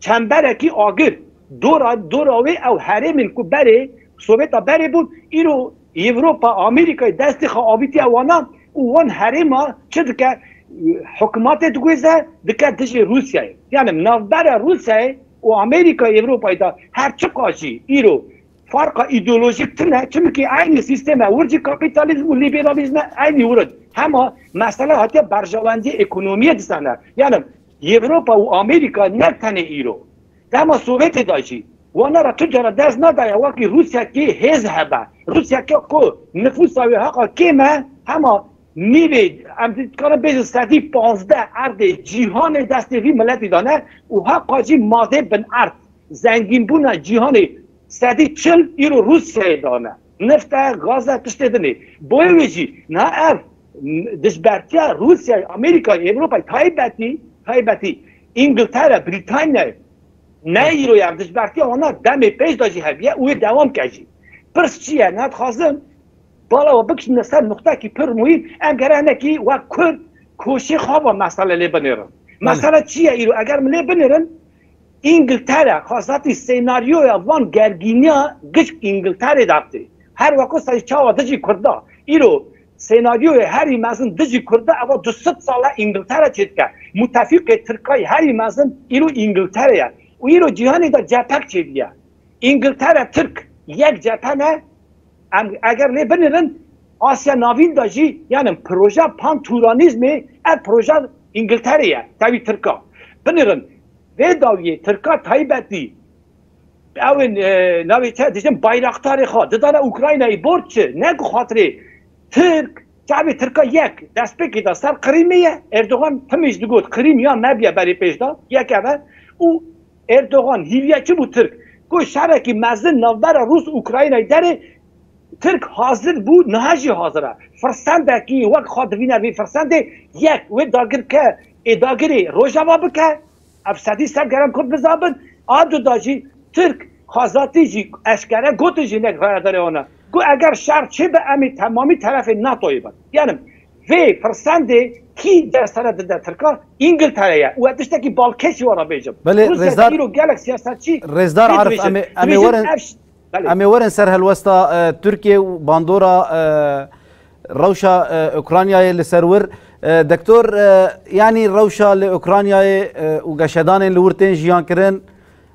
çemberekî agir. Dora dora wê ew herêmên ku berê Sovêta berê bûn, îro Ewropa, Amerîkayê destê xwe avîtiye wana û wan herêma çi dike? Hikmatê diguêze, dike dijî Rûsyayê. Yanî li navbera Rûsyayê û Amerîkayê Ewropayê de her çiqas jî îro farqa îdeolojîk tune, çimkî eynî sîstem e, wir jî kapîtalîzm û lîberalîzm e eynî wir in. Hema mesele hatiye berjewendî ekonomîye dîsa ne. Yanî. Ewropa û Amerîka ne tenê îro, dema Sovyetê de jî wana re tu cara dest nedaye wekî Rûsyakî hêz hebe. Rûsyakî ku nifûsa wê heqa kêm e, hema nîvê em dikarin bêjin sedî pazdeh erdê cîhanê destê vî miletî de ne û heqa jî madê binerd zengînbûna cîhanê sedî çil îro Rûsyayê de ne. Neft e, gaz e, tiştê din e. Boyê wê jî niha ev dijbertiya Rûsyayê, Amerîkayê, Ewropayê taybetî taybetî Îngiltere, Brîtanyayê ne îro ye ev dijbertiya wan a demê pêş de jî hevîye û wê dewam bike jî. Pirs çi ye? Niha dixwazim bala we bikişîne ser nuqtekî pir muhîm. Em gere hinekî wek kurd koşê xwe va mesele lê binêrin. Mesele çi ye îro? Eger min lê binêrin Îngiltere xwezatî sênaryoya van gergîniya giç Îngilterê derxî. Her weko serî çawa di jî kurd de. Îro sênaryoyê herî mezin di jî kurd de eva du sed sal e Îngiltere çê dike. Mutefîqê tirkayî herî mezin îro Îngiltere ye û îro cîhanê de cephe çê diye. Îngiltere tirk yek cephe ne. Em eger lê binirin Asya Navîn de jî yanin proja pan-Turanîzmê ev proja Îngilterê ye tevî Tirka. Binirin vê dawiyê Tirka taybetî ew ên navê çi ye dijin Bayraktarê xwe didane Ukraynayê borc çi ne ku xatirê Tirk çavê Tirka yek destpêkê de ser Qirîmê ye Erdogan timî jî digot Qirîm ya me bûye berê pêş de yek ev e û Erdogan hîviya çi bû Tirk? Ku şerekî mezin navbera Rûs-Ukraynayê derê, Tirk hazir bû niha jî hazir e. Firsendekî wek xwe divîne vê firsendê, yek wê dagirke ê dagirê Rojava bike, ev sedî ser gerem Kurd biza bin, a du da jî Tirk xwezatî jî eşkere gotin jinek rayadarê wan e, ku eger şer çêbe em ê temamî terefê NATO'yê bin. Genim. Vê pirsendê kî der sere dide Tirkan? Ingiltere ye û ez tiştekî balkêşî wan re bêjim. Belê Rêzdar Rûsya îro gelek siyasetçî Rêzdar Arif em ê em ê werin em ê werin ser helwesta Tirkiyê û bandora rewşa Ukraynayê li ser wir. Doktor yanî rewşa li Ukraynayê û geşedanên li wir tên jiyankirin,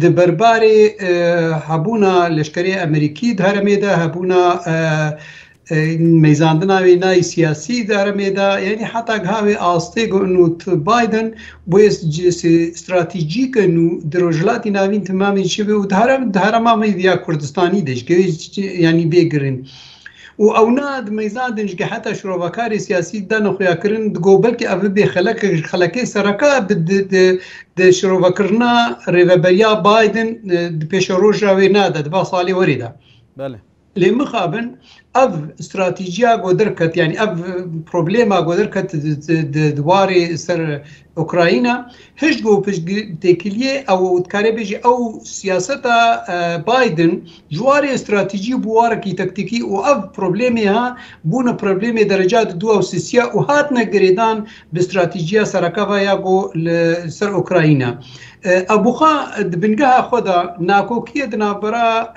Di berbarê hebûna leşkerê Amerîkî di heremê de, hebûna mêzandina wê nayê siyasî di heremê de yanî heta giha wê astê ku nût Biden bûye stratejîk e nû di Rojhilatê Navîn timamê çi be û di herema me vîya Kurdistanî de ji ke yanî bê girîn. û ew ne ad meyzadên ji geheta şirovakarê siyasî dane xuyakirin digo belkî ev bibê xelekek ji xelekê sereke di şirovekirina rêveberiya Biden di pêşeroja wê ne de di va salê werê de. Lê mixabin ev stratîciya goderket yanî ev problema goderket di warê ser Ukrayna hişt ku piştgirtêkiliyê ew û dikarê bêjî ew siyaseta Biden ji warê stratejî bû warekî taktikî û ev problemê ha bûne problemê dereca di dû ew sisiya û hatine girêdan bi stratejiya seraka ve ya ku li ser Ukrayna ew bûxa di bingeha xwe de nakokiyê di navbera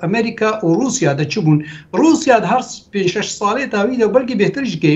Amerîka û Rûsya de çi bûn Rûsya di her pênc şeş salê dawî de belkî bêhtir jikê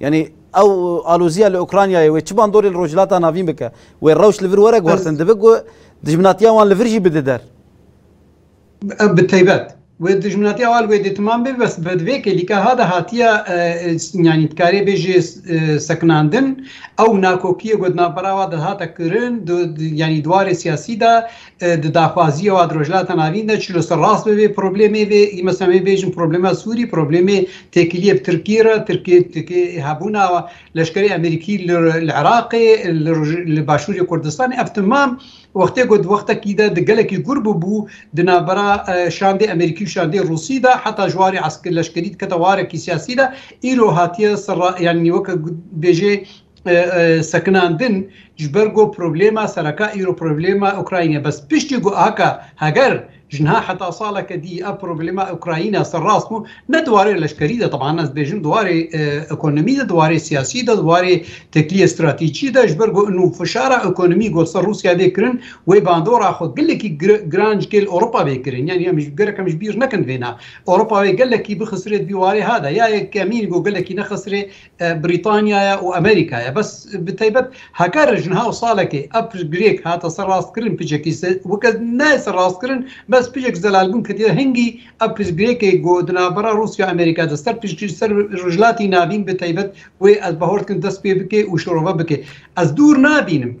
Yanî ew alozîya li Ukraynayê wê çi bandorê li Rojhilata Navîn bike? Wê rewş li vir were guhertin. Divê ku dijminatiya wan li vir jî bide der. Bi taybet. Wê dijminatiya wan li wê dêtiman bê bes bi vê kêlîka ha de hatiye yanî dikarê bêjê sekinandin. Ew nakokiyê ku di navbera wan de hate kirin yanî di warê siyasî de Di daxwaziya wan di Rojhilata Navîn de çilo ser rast be vê problemê vê yê mesela em ê bêjin problema Sûrî, problemê têkiliyê bi Tirkiyê re, Tirkiyê têkiliyê ê hebûna leşkerê Amerîkî li Iraqê, li Başûrê Kurdistanê ev timam wextê ku di wextekî de di gelekî gûr bûbû di navbera şandê Amerîkî û şandê Rûsî de heta ji warê leşkerî dikete warekî siyasî de îro hatiye ser yanî weke bêjê sekinandin ji ber ku problema sereke îro problema Ukrayînê ye. Bes piştî ku heke heger ji niha heta saleke dî ev problema Ukrayîna ser rast bû ne di warê leşkerî de teban ez dibêjim di warê ekonomî de di warê siyasî de di warê tekliyê stratejî de ji ber ku nû fişara ekonomî ku ser Rûsya bê kirin wê bandora xwe gelekî giran ji kêl Ewropa bê kirin yanî em ji gelek em ji bîr nekin vêna Ewropa wê gelekî bixisirê di vî warê ha de ya yekemîn ku gelekî nexisirê Brîtanyaya û Amerîkaya. Bes bi taybet heke rij niha û salekê ev piştgirêk hate ser rastkirin picekî weke nayê ser rastkirin bes picek zelalbûn ketiye hingî ev piştgirêkê ku di navbera Rûsya Amerîka de ser piştgirî ser Rojhilatî navîn bi taybet wê ez bahor dikim dest pê bike û şorove bike. Ez dûr nabînim.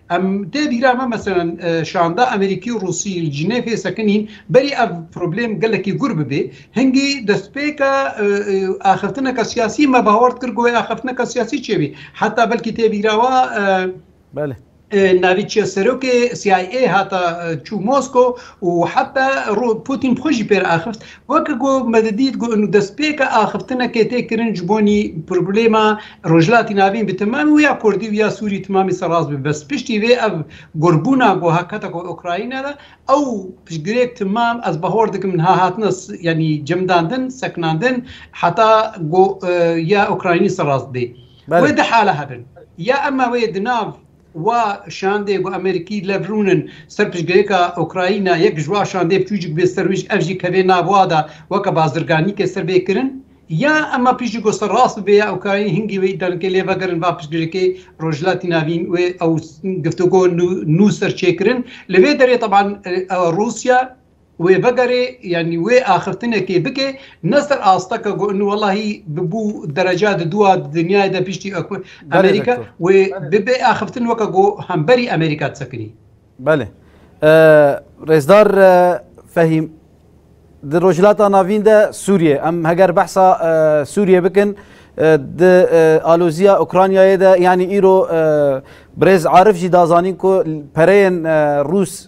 Em tê bîra me meselen şanda Amerîkî û Rûsî li Cinêfê sekinîn berî ev problêm gelekî gûr bibê. Hingî destpêka axiftineke siyasî me bawer dikir ku wê axiftineke siyasî çêbî. Heta belkî tê bîra we Belê. Navî çi ye serokê CIA hata çû Mosko û heta Pûtîn bi xwe jî pê re axift. Weke ku me didît ku destpêka axiftinekê tê kirin ji bo nî problema Rojhilatî Navîn bi temamî û ya Kurdî û ya Sûrî temamî seraz bibe. Bes piştî vê ev gurbûna ku hate ku Ukrayna de ew piştgirêk temam ez bahor dikim niha hatine yanî cemdandin, sekinandin heta ku ya Ukraynî seraz bê. Wê du hale hebin. Ya em me wê di nav Wa şandê ku Amerîkî lev rûn in ser piştgirêka Ukrayna yek ji wa şandê biçûcik bê ser wî ji ev jî kevê nav wa de weke bazirganîkê ser bê kirin ya ema piştî ku ser rast bibe ya Ukraynî hingî wê îdianikê lê vegerin va piştgirêkê Rojhilatî Navîn wê ew giftugo nû ser çêkirin li vê derê teban Rûsya Wê vegere yanî wê axiftinekê bike ne ser asteke ku in welahî bi bû dereca di dûa di dinyayê de piştî aku Amerîka wê bibe axiftin weke ku hemberî Amerîka di sekinî. Belê. Rêzdar Fehîm di Rojhilata Navîn de Sûriyê em heger behsa Sûriyê bikin di aloziya Ukraynayê de yanî îro Birêz Arif jî da zanîn ku pereyên Rûs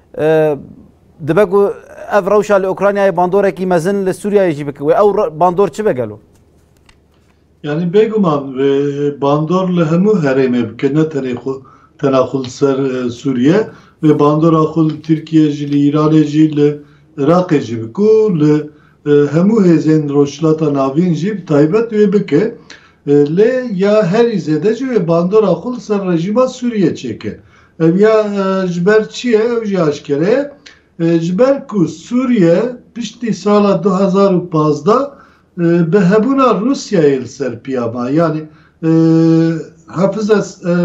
Dibe ku ev rewşa li Ukraynayê bandorekî mezin li Sûriyeyê jî bike. Wê ew bandor çi be gelo? Yanî bêguman wê bandor li hemû herêmê bike ne tenê xwe tena xwe li ser Sûriye. Wê bandora xwe li Tirkiyê jî, li Îranê jî, li Iraqê jî bike û li hemû hêzên Rojhilata Navîn jî bi taybet wê bike. Lê ya herî zêde jî wê bandora xwe li ser rejîma Sûriyê çêke. Ev ya ji ber çi ye ew jî aşkere ye. Ji ber ku Sûriye piştî sala du hezar û pazdeh bi hebûna Rûsyayê li ser piya ma. Yanî Hafiz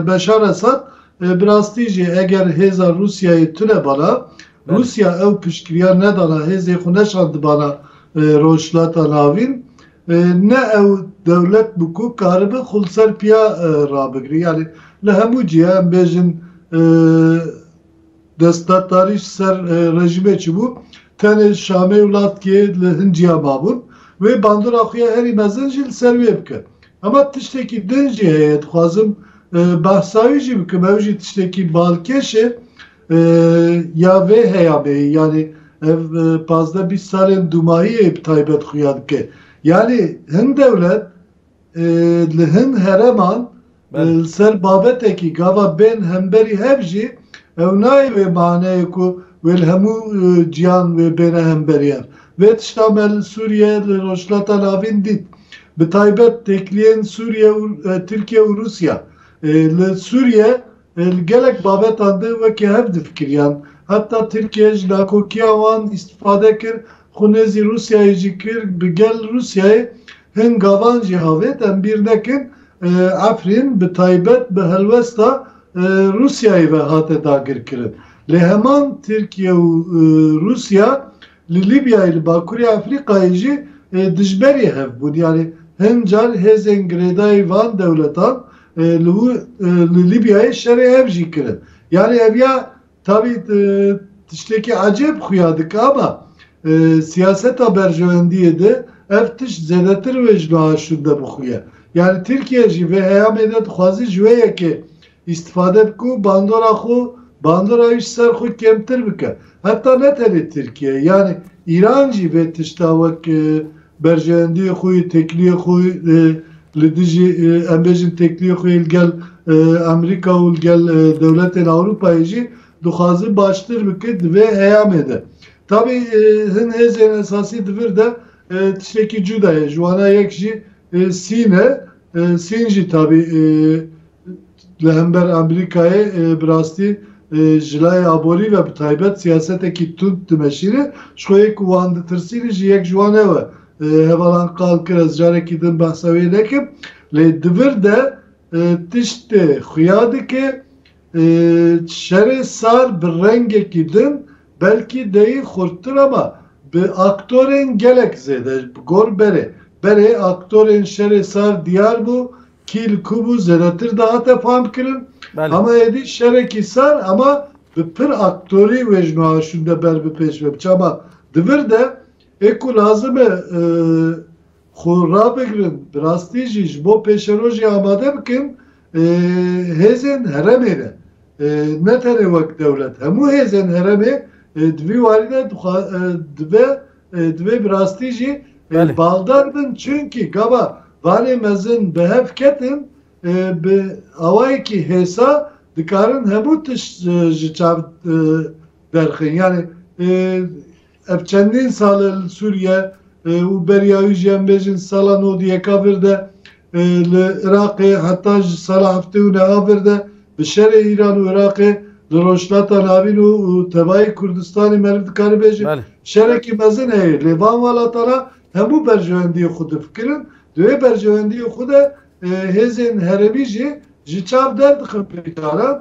Beşar Esad bi rastî jî eger hêza Rûsyayê tunebana, Rûsya ew piştgiriya nedana, hêzê xwe neşandibana Rojhilata Navîn, Ne ew dewlet bû ku karibe xwe li ser piya rabigire. Yanî li hemû cihê em bêjin destdatdarî ji ser rejîmê çûbû, tenê Şamê û Latkiyê li hin ciya mabûn. Wê bandora xwe ya herî mezin jî li ser wê bike. Hema tiştekî din jî heye, dixwazim behsa wî jî bikim, ew jî tiştekî balkêş e, Ya vê heya be ye. Yanî ev pazdeh bîst salên dûmayîyê bi taybet xuya dike. Yanî hin dewlet li hin hereman li ser babetekî gava bên hemberî hev jî ew nayê wê maneyê ku wê li hemû ciyan wê bêne hemberî hev. Vê tişta me li Sûriye, li Rojhilata Navîn dît. Bi taybet têkiliyên Sûriye û Tirkiye û Rûsiya. Li Sûriye. Li gelek babetan de weke hev difikiriyan. Heta Tirkiye ji nakokiya wan îstîfade kir, xwe nêzî Rûsyayê jî kir, bi gel Rûsyayê hin gavan jî avêt. Em bîr nekin Efrîn bi taybet bi helwesta Rûsyayê ve hate dagirkirin. Lê heman Tirkiye û Rûsya Li Lîbyayê, li Bakurê Efrîqayê jî dijberî hev bûn. Yanî hin car hêzên girêdayî van dewletan li wî li Lîbyayê şerê hev jî kirin. Yanî ev ya tabî tiştekî ecêb xuya dike ama siyaseta berjewendiyê di ev tişt zêdetir wê ji niha şûnde bixuye. Yanî Tirkiye jî vê heyamê de dixwazî ji wê yekê Îstîfade bike û bandora xwe bandora wî ji ser xwe kêmtir bike. Heta ne tenê Tirkiye yanî Îran jî vê tişta wek berjeyendiyê xwe yê têkiliyê xwe li dijî em bêjin têkiliyê xwe yê li gel Amerîka û li gel dewletên Ewropayê jî dixwaze baştir bike di vê eyamê de. Tabî hin hêzên esasî di vir de tiştekî cuda ye ji wana yek jî Sîn e. Sîn jî tabî li hember Amerîkayê bi rastî ji layê aborî ve bi taybet siyasetekî tund dimeşîre. Ji xwe yê ku wan ditirsîne jî yek ji wan ew e. Hevalan qal kir ez carekî din behsa wê nekim. Lê di vir de tiştê xuya dike. Şerê sar bi rengekî din belkî deyî xurttir ama bi aktorên gelek zêde bi gor berê. Berê aktorên şerê sar diyar bû kî li ku bû zêdetir dihate famkirin. Hema êdî şerekî sar ama bi pir aktorî wê ji niha şûnde ber bi pêş ve biçe ama di vir de ê ku lazim e Xwe rabigirin, bi rastî jî ji bo pêşerojê amade bikin hêzên heremê re. Ne tenê wek dewlet, hemû hêzên heremê di vî warî de dibe divê bi rastî jî baldar bin çunkî gava vanê mezin bi hev ketin bi awayekî hêsa dikarin hemû tişt ji çav derxin. Yanî Ev çendîn sal e li Sûriye û beriya wî jî em bêjin sala nod û yeka vir de li Iraqê heta ji sala heftê û neha vir de bi şerê Îran û Iraqê li Rojhilata Navîn û tebayê Kurdistanê meriv dikare bêjin şerekî mezin heye lê van welatan a hemû berjewendiyê xwe difikirin di wê berjewendiyê xwe de hêzên herêmî jî ji çav derdixin pêkdaran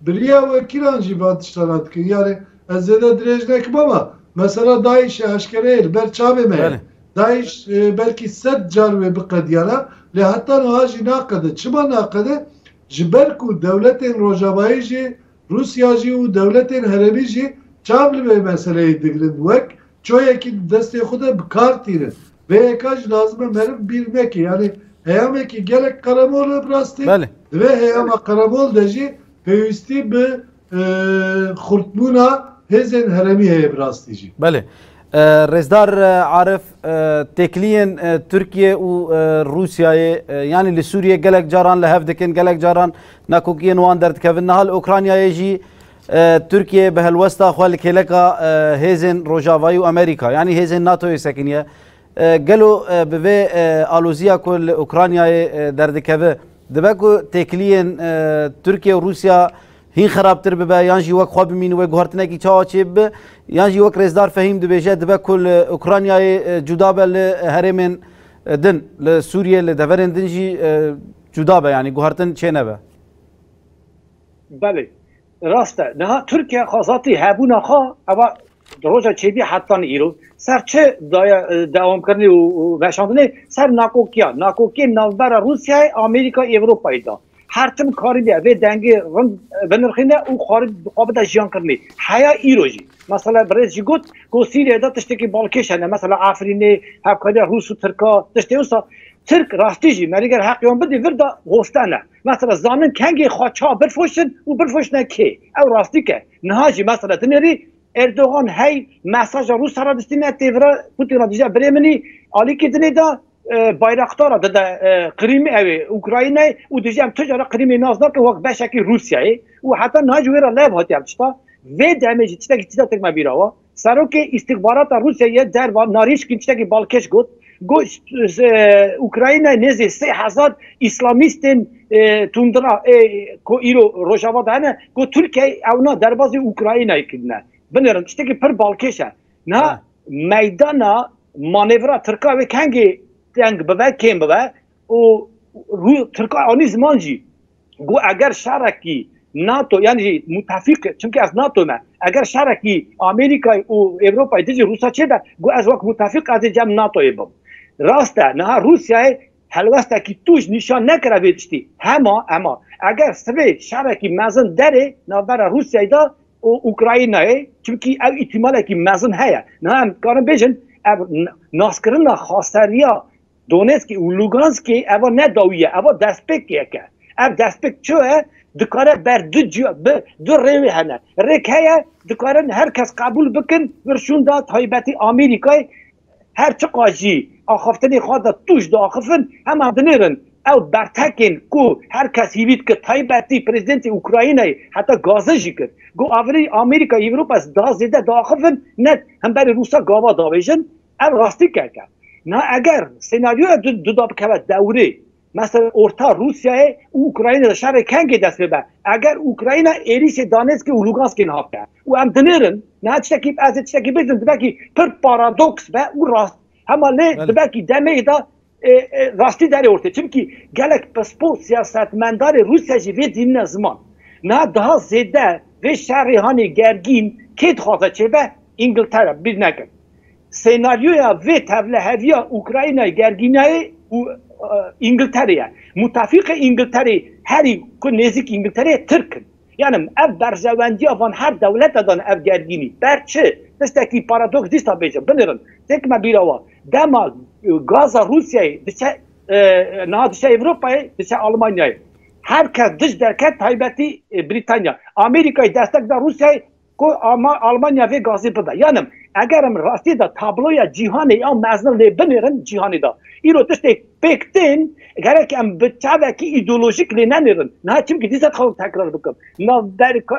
Bi riya wekîlan jî van tiştanan dikin. Yanî ez zêde dirêj nekim ama mesela DAIŞ'ê eşkereyê li ber çavê me ye. DAIŞ belkî sed car wê biqediyana lê heta niha jî naqede. Çima naqede? Ji ber ku dewletên Rojavayî jî, Rûsya jî û dewletên herêmî jî çav li vê meseleyê digirin wek Çayekî di destê xwe de bi kar tîne. Vê yeka jî lazim e meriv bîr neke. Yanî heyamekî gelek qeremol e bi rastî. Di vê heyama qeremol de jî pêwîstî bi xurtbûna hêzên herêmî heye bi rastî jî. Belê. Rêzdar Arif, têkiliyên Tirkiyê û Rûsyayê yanî li Sûriyê gelek caran li hev dikin, gelek caran nakokiyên wan derdikevin. Niha li Ûkranyayê jî Tirkiye bi helwesta xwe li kêleka hêzên Rojavayî û Amerîka yanî hêzên NATOyê sekiniye. Gelo bi vê aloziya ku li Ukraynayê derdikeve dibe ku têkiliyên Tirkiye û Rûsya hîn xerabtir bibe yan jî wek xwe bimîn wê guhartinekî çawa çê bibe yan jî wek rêzdar Fehîm dibêje dibe ku li Ukraynayê cuda be li herêmên din li Sûriyê li deverên din jî cuda be yanî guhartin çê nebe. Belê, rast e. Niha Tirkiye xwezatî hebûna xwe eva di roja çêbî hetanî îro ser çi daye dewamkirinê û veşandinê ser nakokiyan. Nakokiyên navbera Rûsyayê, Amerîkayê, Ewropayê de her tim karîbiye vê dengê rind binirxîne û xwarî bi xwe bide jiyankirinê. Heya îro jî mesela birêz jî got ku Sîriyeyê de tiştekî balkêş hene mesela Efrînê, hevkariya Rûs û Tirka tiştê wisa Tirk rastî jî merîger heq wan bidî vir de goste ne. Mesela zanin kengê xwe ça birfoşin û birfoşine kê. Ew rastîk e. Niha jî mesela dinêrî Erdogan hey mesaja Rûsa re distîne têvira Pûtîn re dije birê min î alîkî dinê da Bayraktar re dide Qirîmê ew ê Ukraynayê û dije em tu jare Qirîmê nas nakin wek beşekî Rûsyayê û heta niha jî wê re lev hatiye ev tişta. Vê demê jî tiştekî tîza tirk me bîr awa. Serokê Îstixbarata Rûsyayê derba Narîşkin tiştekî balkêş got, Got Ukraynayê nêzî sê hezar îslamîstên tundra ê ku îro Rojava de hene, got Tirkiyeyê ewna derbazê Ukraynayê kirine. Binêrin tiştekî pir balkêş e. Niha meydana manevra Tirkan wê kengê teng bibe, kêm bibe û Tirkan anî ziman jî. ku eger şerekî NATO yan jî mutefîq çimkî ez NATO me eger şerekî Amerîkayê û Ewropayê dijî Rûsa çêbe ku ez wek mutefîq ez ê cem NATOyê bim. Rast e niha Rûsyayê helwestekî tûj nîşan nekire vê tiştî hema hema eger sibê şerekî mezin derê navbera Rûsyayê de û Ukraynayê çimkî ew îtîmalekî mezin heye niha em dikarin bêjin ev naskirina xaseriya Donetskê û Luganskê eva ne dawî ye, eva destpêkek e. Ev destpêk çi ye? Dikare ber du ciya bi du rêwê hene. Rêk heye dikarin her kes qebûl bikin vir şûnda taybetî Amerîkayê her çiqas jî axaftinê xwe de tûj diaxifin heman dinêrin. Ew bertekên ku her kes hîvî dikir taybetî Prezidentê Ukraynayê heta gaze jî kir. Got avirî Amerîka Ewropa da zêde diaxifin ne himberî Rûsa gava diavêjin Ev rastîkek e. Na eger senaryoya du du da bikeve dewrê, mesela orta Rûsyayê û Ukraynê de şerê kengê dest pê be, eger Ukrayna êrîşê Danetskê û Luganskê niha bike û em dinêrin, niha tiştekî ez ê tiştekî bibêjim dibekî pir paradoks be û rast hema lê dibekî demeyê de rastî derê ortê. Çimkî gelek pispor siyasetmendarê Rûsya jî vê dînine ziman. Niha daha zêde vê şerê hanê gergîn kê dixwaze çêbe? Îngiltere, bîr nekin. Senaryoya vê tevliheviya Ukraynayê, gergînayê û Îngilterê ye. Mutefîqê Îngilterê herî ku nêzîk Îngilterê ye Tirk in. Yanim ev berjewendiya van her dewlete dane ev gergînî. Ber çi? Tiştekî paradoks dîsa bêje. Binirin. Têk me bîra wa. Dema gaza Rûsyayê diçe niha diçe Ewropayê, diçe Almanyayê. Her kes dij derket taybetî Brîtanya. Amerîkayê destek da Rûsyayê ku Almanya vê gazê bida. Yan em eger em rastî de tabloya cîhanê ya mezin lê binêrin cîhanê de îro tiştê pêk tên gerek em bi çavekî îdeolojîk lê nenêrin. Niha çimkî dîsa dixwazim tekrar bikim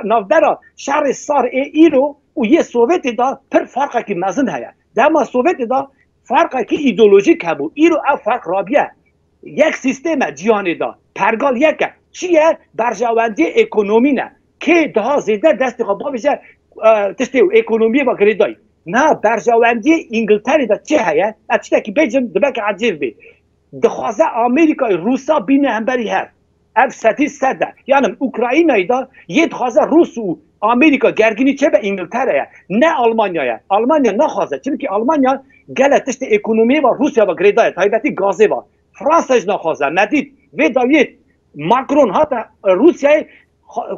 navbera şerê sar ê îro û yê Sovyetê de pir farqekî mezin heye. Dema Sovyetê de farqekî îdeolojîk hebû îro ev farq rabiye. Yek sîstêm e cîhanê de. Pergal yek e. Çi ye? Berjewendiyê ekonomî ne. Kê daha zêde destê xwe bavêje tiştê û ekonomiyê ve girêdayî. Niha berjewendiyê Îngilterê de çi heye? Ez tiştekî bêjim dibe ke ecêv bê. Dixwaze Amerîkayê Rûsa bîne hemberî hev. Ev setî sed e. Yan im Ukraynayê de yê dixwaze Rûs û Amerîka gerginî çêbe Îngiltere ye, ne Almanya ye. Almanya naxwaze. Çimkî Almanya gele tiştê ekonomiyê ve Rûsya ve girêdayê, taybetî gazê ve. Fransa jî naxwaze. Me dît vê dawiyê Macron hate Rûsyayê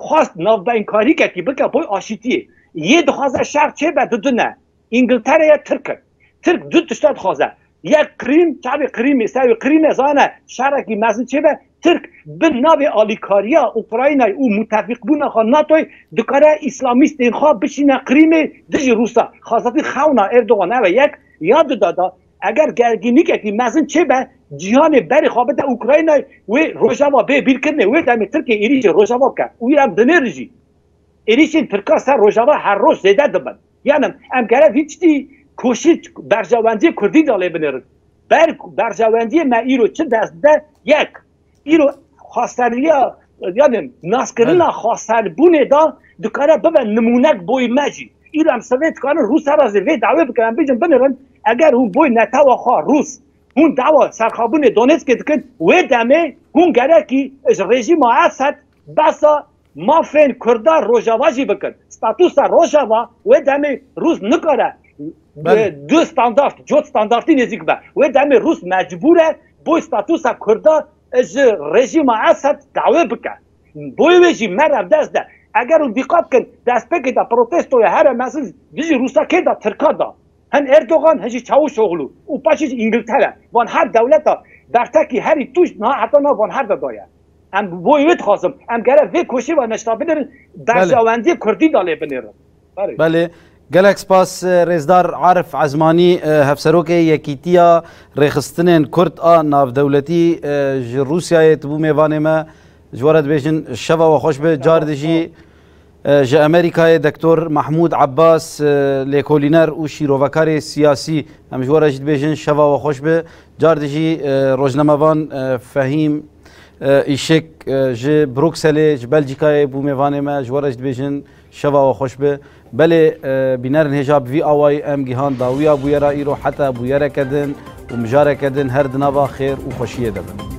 xwest navbeyinkarîkekî bike bo aşîtiyê. Yê dixwaze şer çêbe du din e. Îngiltere ye, Tirk in. Tirk du tişta dixwaze. Yek Qirîm, çavê Qirîmê, sewê Qirîmê zane şarekî mezin çêbe. Tirk bi navê alîkariya Ukraynayê û mutefîqbûna xwe NATOyê dikare îslamîstên xwe bişîne Qirîmê dijî Rûsa. Xazetî xewna Erdogan ev e yek, ya du da da eger gergînîkekî mezin çêbe cîhanê berê xwe bide Ukraynayê wê Rojava bê bîrkirinê wê demê Tirkiyê êrîşê Rojava bike û îrab dinêrijî. Êrîşên Tirkan ser Rojava her roj zêde dibin. Yanim, em kere vî tiştî koşî berjewendiyê kurdî de lê binêrin. Ber ku berjewendiyê me îro çi dest dide, yek, îro xweseriya yanim naskirina xweserbûnê de dikare bibe nimûnek boy me jî. Îro em sivê dikarin Rûsa re zî vê dawê bikin, em bijin binêrin, eger hûn boy netewa xwe Rûs, hûn dawa serxabûnê Donetskê dikin, wê demê hûn gerekî ji rejîma Esed behsa Mafên Kurda Rojava jî bikin. Statusa Rojava wê demê Rûs nikare du standart, cot standartî nêzîk be. Wê demê Rûs mecbûr e boy statusa Kurda ji rejîma Esed dawê bike. Boy wê jî me rev dest de. Eger hûn dîqat bikin destpêkê de protestoya here mezin dijî Rûsa kê da? Tirka da. Hin Erdogan, hin jî Çavuşoglu û paşê jî Îngiltere van her dewleta bertekî herî tûj niha heta nav van her de daye. Em bi boyê wê dixwazim em gere vê koşê ve neşna binêrin, berjewendiyê kurdî da lê binêrin. Berê. Belê. Gelek spas Rêzdar Arif Ezmanî, Hevserokê Yekîtiya Rêxistinên Kurd a Navdewletî ji Rûsyayê. Tu bû mêvanê me. Ji we re dibêjin şeva we xweş be. Caridê jî. Ji Amerîkayê Doktor Mahmûd Abbas lêkolîner û şîrovekarê siyasî em ji we re jî dibêjin şeva we xweş be. Car dijî rojnamevan Fehîm Îşik ji Brukselê ji Belcîkayê bû mêvanê me ji we re jî dibêjin şeva we xweş be. Belê bînerin hêja bi vî awayî em gihan dawiya bûyera îro heta bûyereke din û mijareke din her di nava xêr û xweşiyê de bin.